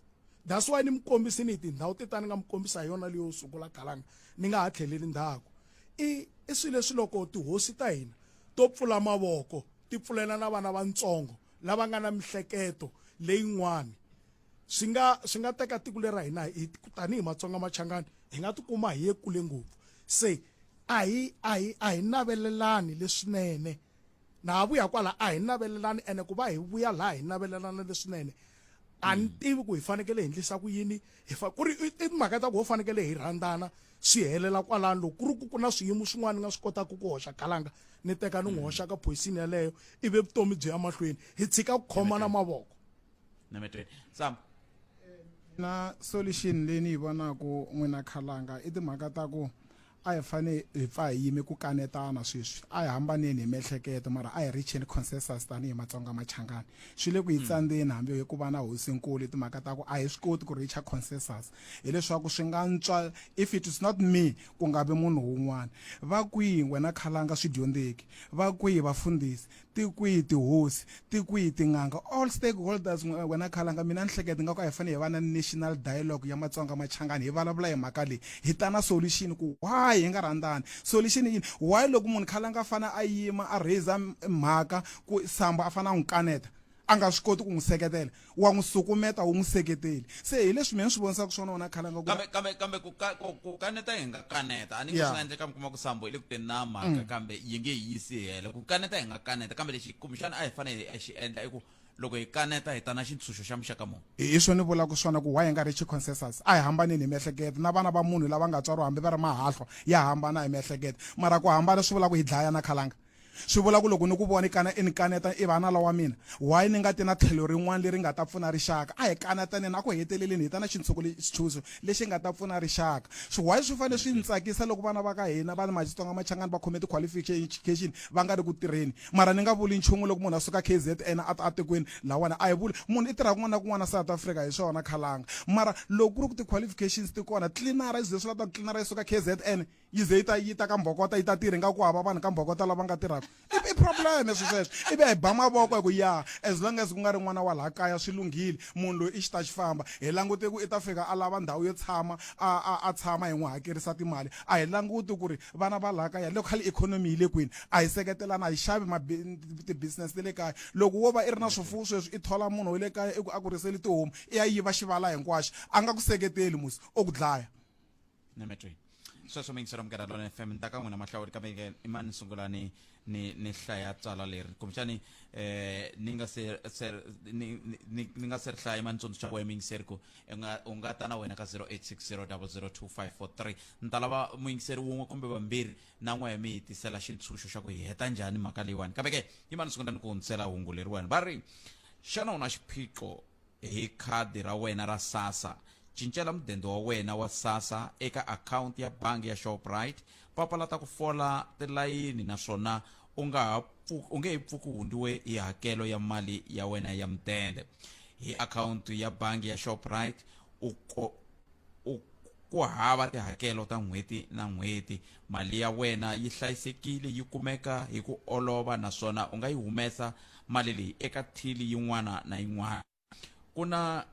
that's why ni mi kombisi ni tindhawu ti ta ni nga mi kombisa hi yona leyo sungula galanga ni nga ha tlheleli ndhaku i i swilo leswi loko tihosi ta hina to pfula mavoko ti pfulela na vana vatsongo lava nga na mihleketo leyin'wani swi nga swi nga teka tiko lera hina hi tanihi matsonga machangani hi nga tikuma hi ye kule ngopfu se a hi a hi a hi navelelani leswinene na ha vuya kwala a hi navelelani ene ku va hi vuya laha hi navelelana leswinene a ni tivi ku hi fanekele hi endlisa ku yini hi fa ku ri i timhaka ta ku ho fanekele hi rhandzana swi helela kwalano loko ku ri ku ku na swiyimo swin'wana ni nga swi kotaka ku hoxa kalanga ni teka ni n'wi mm. hoxa ka phoyisini yeleyo ivi vutomi byi ya mahlweni hi tshika ku khomana mavoko na mi tweni sam na solution leyi ni yi vonaka n'wina khalanga i timhaka ta ku a hi fane hi pfa hi yime ku kanetana sweswi a hi hambaneni hi miehleketo mara a hi richeni consensus tanihi matsonga machangani swi le ku yi hmm. tsandzeni hambi hi ku va na hosinkulu timhaka ta ku a hi swi koti ku richa consensus hileswaku swi nga ntswa if it is not me ku nga vi munhu wun'wana va kwihi wena khalanga swi dyondzeki va kwihi vafundhisi ti kwihi tihosi ti kwihi tin'anga all stakeholders n'we- wena khalanga mina ni hleketa nga ku a hi fanele hi va na national dialogue ya matsonga machangani hi vulavula hi mhaka leyi hi ta na solution ku why hi nga rhandzani solution i yini why loko munhu khalanga a fane a yima a raiser m- mhaka ku samba a fane a n'wi kaneta a nga swi koti ku n'wi seketela wa n'wi sukumeta wu n'wi seketeli se hi leswi mina ni swi vonisaka swona wona khale nga kambe kambe kambe ku ka ku ku kaneta hi nga kaneta a ni nge swi nga endleka mi kuma ku sambo hi le ku teni na mhaka mm. kambe yi nge yi yisi hela ku kaneta hi nga kaneta kambe lexi kumbexana a hi fanele hi xi endla i ku loko hi kaneta hi ta na xintshunxo xa muxaka muni hi swo ni vulaka swona ku why hi nga ri chiconsensus a hi hambanini hi miehleketo na vana va munhu lava nga tswariwa hambi va ri mahahlwa ya hambana hi miehleketo mara ku hambana swi vula ku hi dlayana khalanga Swi vula ku loko ni ku vona i kana i ni kaneta i vanala wa mina, why ni nga ti na tlhelo rin'wana leri nga ta pfuna rixaka? A hi kanataneni, a ku heteleleni hi ta na xintshuku le, xitshunxo lexi nga ta pfuna rixaka. Swi why swi fanele swi ni tsakisa loko vana va ka hina va Matsonga Machangani va khome ti qualification va nga ri ku tirheni? Mara ni nga vuli nchumu loko munhu a suka KZN a ta a tikweni lahawani, a hi vuli munhu i tirha kun'wana na kun'wana South Africa hi swona khalanga, mara loko ku ri ku ti qualifications ti kona tlilinara i ze swi la ta ku tlilinara yi suka KZN? yi ze yi ta yi ta ka mbhokota yi ta tirha ingaku hava vanhu ka mbhokota lava nga tirhaka i i problem leswi sweswo ivi a hi ba mavoko hi ku ya as long as ku nga ri n'wana wa laha kaya swi lunghile munhu loyi i xi ta xi famba hi langute ku i ta fika a lava ndhawu yo tshama a a a tshama hi n'wi hakerisa timali a hi languti ku ri vana va laha kaya local economy yi le kwini a hi seketelana a hi xavi ti-business ta le kaya loko wo va i ri na swifuwo sweswi i thola munhu wa le kaya i ku a ku riseli tihomu i ya yiva xivala hinkwaxo a nga ku seketeli musi o ku dlaya nemetri sweswo mi yingisela munghana lona fm ni ta ka n'wina mahlawuri kambe ke i mani ni sungula ni ni ni hlaya tswala leri kumbexani eh ni nga se se ni ni- ni ni nga se ri hlaya mani tsundzuxa wena mi yingiseri ku i nga u nga ta na wena ka 0860002543 ni ta lava muyingiseri wun'we kumbe vambirhi na n'we mi hi tisela xintshunxo xa ku hi heta njhani mhaka leyiwani kambe ke yi mani ni sungula ni ku hundzisela hungu leriwani va ri xana u na xiphiqo Hi khadi ra wena ra SASSA, cincela mudende wa wena wa SASSA eka akhawunti ya bangi ya Shoprite. Papalata ku fola tilayini naswona u nga ha u nge he pfuki u hundiwe hi hakelo ya mali ya wena ya mudende. Hi akhawunti ya bangi ya Shoprite u ku hava tihakelo ta n'hweti na n'hweti Mali ya wena yi hlayisekile, yi kumeka hi ku olova naswona u nga yi humesa mali leyi eka thili yin'wana na yin'wana. Ku na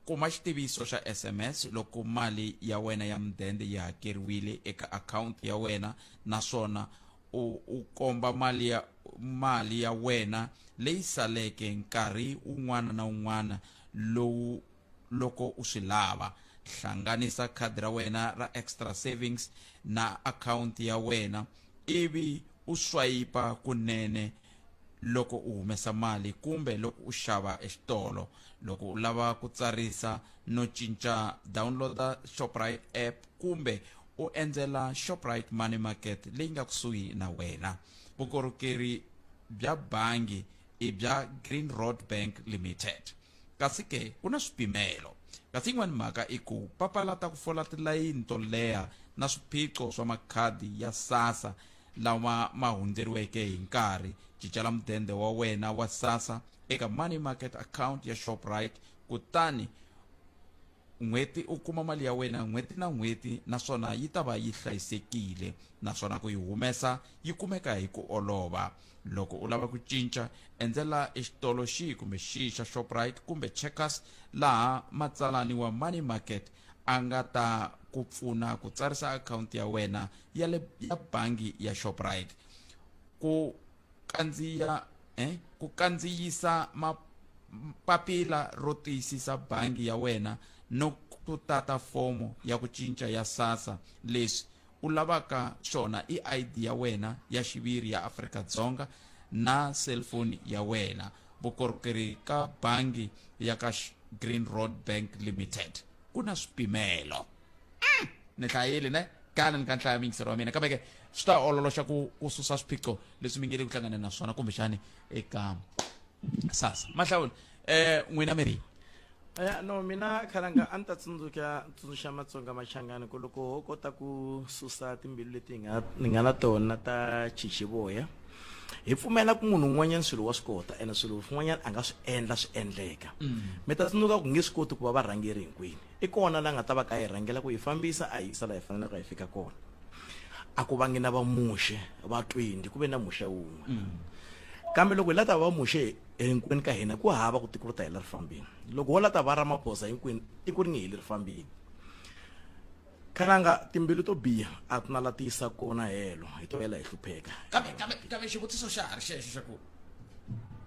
Kuma xitiviso xa SMS loko mali ya wena ya mudende yi hakeriwile eka akhawunti ya wena naswona u, u komba mali ya, mali ya wena leyi saleke nkarhi wun'wana na wun'wana lowu loko u swi lava. Hlanganisa khadi ra wena ra Extra Savings na akhawunti ya wena ivi u swayipa kunene loko u humesa mali kumbe loko u xava exitolo. Loko u lava ku tsarisa no cinca download-a Shoprite app kumbe u endzela Shoprite Money Market leyi nga kusuhi na wena. Vukorhokeri bya bangi i bya Green Road Bank Limited. Kasi ke, ku na swipimelo. Kasi yin'wana mhaka i ku papalata ku fola tilayini to leha na swiphiqo swa makhadi ya SASSA lawa ma hundzeriweke hi nkarhi. Cincela mudende wa wena wa SASSA eka Money Market Account ya Shoprite kutani N'hweti u kuma mali ya wena n'hweti na n'hweti naswona yi ta va yi hlayisekile naswona ku yi humesa yi kumeka hi ku olova. Loko u lava ku cinca, endzela exitolo xihi kumbe xihi xa Shoprite kumbe Checkers laha matsalani wa Money Market a nga ta ku pfuna ku tsarisa akhawunti ya wena ya le ya bangi ya Shoprite. Ku kandziya eh, ku kandziyisa papila ro tiyisisa bangi ya wena no ku tata fomo ya ku cinca ya sasa leswi u lavaka swona i id ya wena ya xiviri ya afrika dzonga na cellphone ya wena vukorhokeri ka bangi ya ka green road bank limited ku na swipimelo ni hlayile ne kana ni ka nhlaya mingisero wa mina kambe ke swi ta ololoxa ku ku susa swiphiqo leswi mi nge le ku hlanganeni na swona kumbexani eka sasa mahlawula eh n'wina mi ri ya no mina khalanga a ni ta tsundzuka tsundzuxa matsonga machangani ku loko ho kota ku susa timbilu leti hi nga ni nga na tona ta chichivoya hi pfumela ku munhu un'wanyana swilo wa swi kota ene swilo swin'wanyana a nga swi endla swi endleka mi ta tsundzuka ku nge swi koti ku va varhangeri hinkwini I kona la nga ta va ka a hi rhangela ku hi fambisa a hi yisa la hi fanelaka hi fika kona. A ku vangi na vamuxe va 20 ku ve na muxe wun'we. Kambe loko hi la ta va vamuxe hinkwenu ka hina ku hava ku tiko ri ta hela ri fambini. Loko ho la ta va Ramaphosa hinkwenu tiko ri nge heli ri fambini. Kananga timbilu to biha a ti na la ti yisa kona helo hi to hela hi hlupheka. Kambe kambe kambe xivutiso xa ha ri xexo xa ku.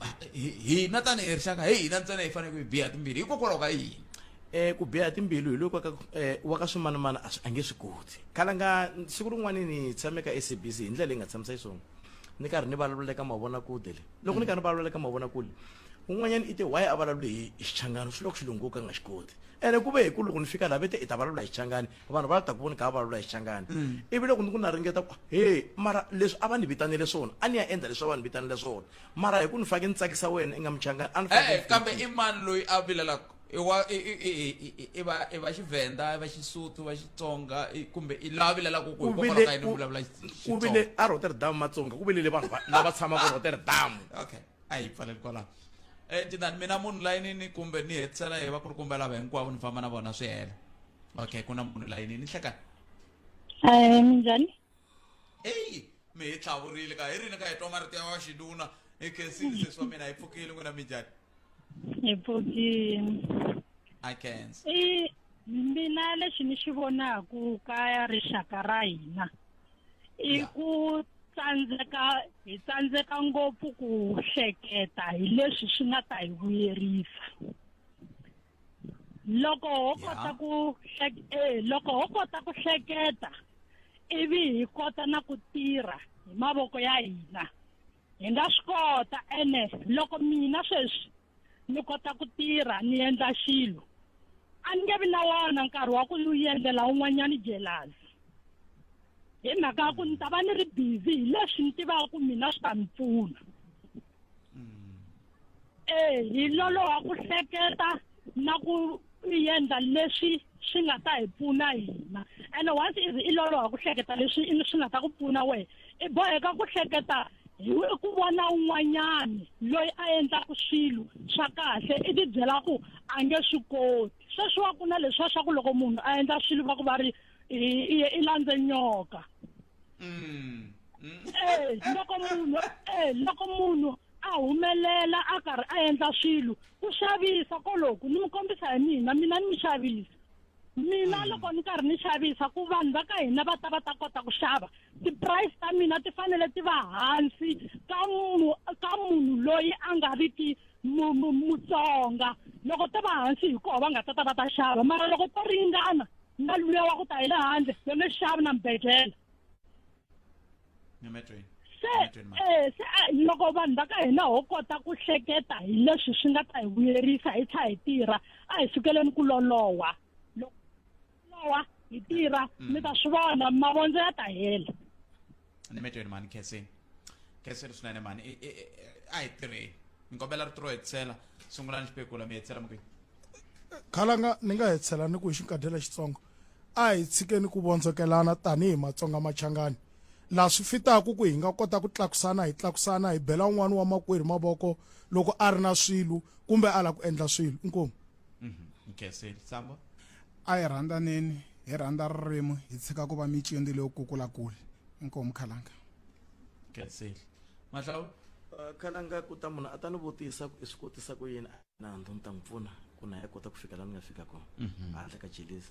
Ah, hi- hina tanihi rixaka hi hina ntsena hi faneleke hi biha timbili hikokwalaho ka yini Eh, ku biha timbilu hi loko eh, wa ka swimanimani a swi- a nge swi koti khalanga siku rin'wana ni tshame ka sabc hi ndlela leyi nga tshamisa xiswona ni karhi ni vulavula eka mavonakule le loko ni karhi ni vulavula eka mavonakule un'wanyana i te waye a vulavule hi hi xichangani swi loko xilungu ka nga xi koti ene ku ve hi ku loko ni fika laha ve te i ta vulavula hi xichangani vanhu va ta ku voni ka va lula xichangani ivi loko ni ku na ringeta ku he mara leswi a va ni vitanele swona a ni ya endla leswi a va ni vitanele swona mara hi ku ni fake ni tsakisa wena i nga muchangani a ni fake Eh, ni kambe i mani loyi a vilelaka i wa i i i i- i- i va i va xivenda i va xisuthu i va xitsonga i- kumbe i la vilelaka ku ku ku hikokwalaho ka vile yini u ku- vulavula Xi- ku Xitsonga? vile a rotterdam matsonga ku vilele vanhu va- lava tshamaka rotterdam okay a hi pfaleli kwalaho um tinani mina munhu layinini kumbe ni hetisela hi va ku ri kumbe lava hinkwavo ni famba na vona swi hela okay ku na munhu layinini hlekani Eh, minjhani eyi mi hi tlhavurile ka hi rini ka hi twa marito ya wa xinuna hi khensile sesi wa mina hi pfukile n'wina mi njhani hi pfukini i cancer i mina lexi ni xi vonaku ka rixaka ra hina i Ya. ku tsandzeka hi tsandzeka ngopfu ku hleketa hi leswi swi nga ta hi vuyerisa loko ho kota ku eh, loko ho kota ku hleketa ivi hi kota na ku tirha hi mavoko ya hina hi nga swi kota ene loko mina sweswi ni kota ku tirha ni endla xilo a ni nge vi na wona nkarhi wa ku ni endlela un'wanyana jelasi hi mhaka ya ku ni ta va ni ri busy hi leswi ni tivaka ku mina swi ta ni pfuna mm. e hi loloha ku hleketa na ku yendla leswi swi nga ta hi pfuna hina ene once is i loloha ku hleketa leswi swi nga ta ku pfuna wehe i boheka ku hleketa hi ku vona un'wanyani loyi a endlaka swilo swa kahle i ti byela ku a nge swi koti sweswiwa ku na leswiwa swa ku loko munhu a endla swilo va ku va ri i landze nyoka mm. Mm. Eh, loko munhu eh, loko munhu a humelela a karhi a endla swilo ku xavisa koloku ni mi kombisa hi mina mina ni mi xavisa mina mm. loko ni karhi ni xavisa ku vanhu va ka hina va ta va ta kota ku xava ti-price ta mina ti fanele ti va hansi ka munhu ka munhu loyi a nga ri ki mutsonga loko to va hansi hi koho va nga ta ta va ta xava mara loko to ringana na luya wa ku ta hi le handle yo nge xavi na mbedlela se eh, se ah, loko vanhu va ka hina ho kota ku hleketa hi leswi swi nga ta hi vuyerisa hi tlha hi tirha a hi sukeleni ku lolowa loko lolowa hi tirha mm. mi ta swi vona mavondzo ya ta hela ni metweni mani kheseni kheseni swinene mani a hi tirheni ni kombela ri tiro hetsela sungulani xipekula mi hetsela mukini khalanga ni nga hetsela ni ku hi xinkadyela xitsongo a hi tshikeni ku vondzokelana tanihi matsonga machangani laha swi fitaku ku hi nga kota ku tlakusana hi tlakusana hi bela un'wana wa makwerhu mavoko loko a ri na swilo kumbe a la ku endla swilo inkomu nkese samba a hi rhandhaneni hi rhandza ririmi hi tshika ku va micindi leyo kukula kule inkomu khalanga nkese mahlawu khalanga ku ta munhu a ta ni vutisa ku i swi kotisa ku yini nandzu ni ta n'wi pfuna ku na ya kota ku fika la ni nga fika kona mhm. handle ka jelesi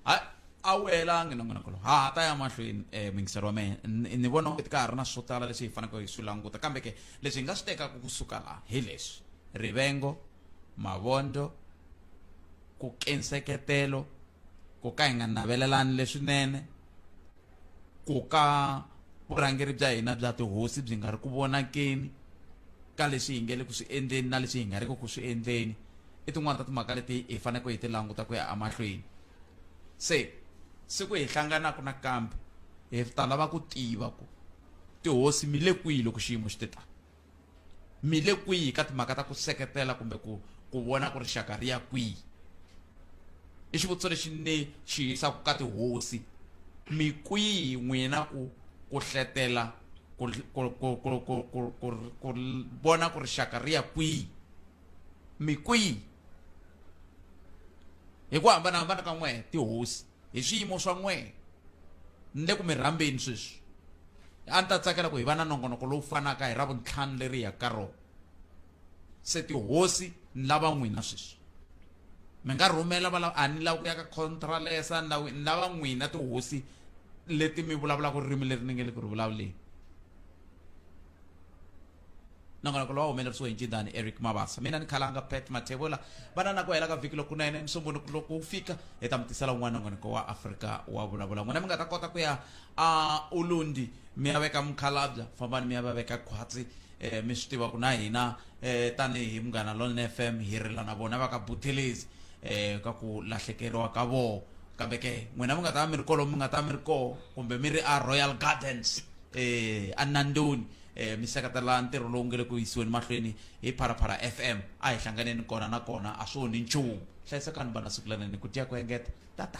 hayi a wu helangi na n'wanakolo ha ha ta ya mahlweni um mingiselo wa mehe ni vona onge ti ka ha ri na swo tala leswi hi faneleke hi swi languta kambe ke leswi hi nga swi tekaka kusuka laha hi leswi rivengo mavondzo ku kenseketelo ku ka hi nga navelelani leswinene ku ka vurhangeri bya hina bya tihosi byi nga ri ku vonakeni ka leswi hi nge le ku swi endleni na leswi hi nga ri ku swi endleni i tin'wana ta timhaka leti hi faneleke hi ti languta ku ya emahlweni se siku hi hlanganaka nakambe hi ta lava ku tiva ku tihosi mi le kwihi loko xiyimo xi te tani mi le kwihi ka timhaka ta ku seketela kumbe ku ku vona ku rixaka ri ya kwihi i xivutiso lexi ni xi yisaka ka tihosi mi kwihi n'wina ku ku hletela ku vona ku rixaka ri ya kwihi mi kwihi hi ku hambanahambana ka n'wehe tihosi hi swiyimo swa n'we ni le ku mi rhambeni sweswi a ni ta tsakela ku hi va na nongonoko lowu fanaka hi ra vuntlhanu leri ya ka rona se tihosi ni lava n'wina sweswi mi nga rhumela va lava a ni lava ku ya ka contralesa ni lava ni lava n'wina tihosi leti mi vulavulaka ririmi leri ni nge le ku ri vulavuleni nongonoko lowu humelerisiwe hi ncindani eric mabasa mina ni khalanga pet mathevula vana na ku hela ka vhiki lokunene musumbunuku loko wu fika hi ta mi tisela un'wana nongonoko wa afrika wa vulavula n'wina mi nga ta kota ku ya a ulundi mi ya veka mukhalabya fambani mi ya va veka khwatsi eh, mi swi tiva ku na hina eh, tanihi munghana lone f m hi rila na vona va ka buthelezi eh, ka ku lahlekeriwa ka vona kambe ke n'wina mi nga ta va mi ri kolomu mi nga ta va mi ri koho kumbe mi ri a royal gardens eh, a nandoni eh, mi seketela ntirho lowu nge le ku yisiweni mahlweni hi pharaphara fm a hi hlanganeni kona na kona a swi onhi nchumu hlayisekani vana siku lanene ku tiya ku engeta tata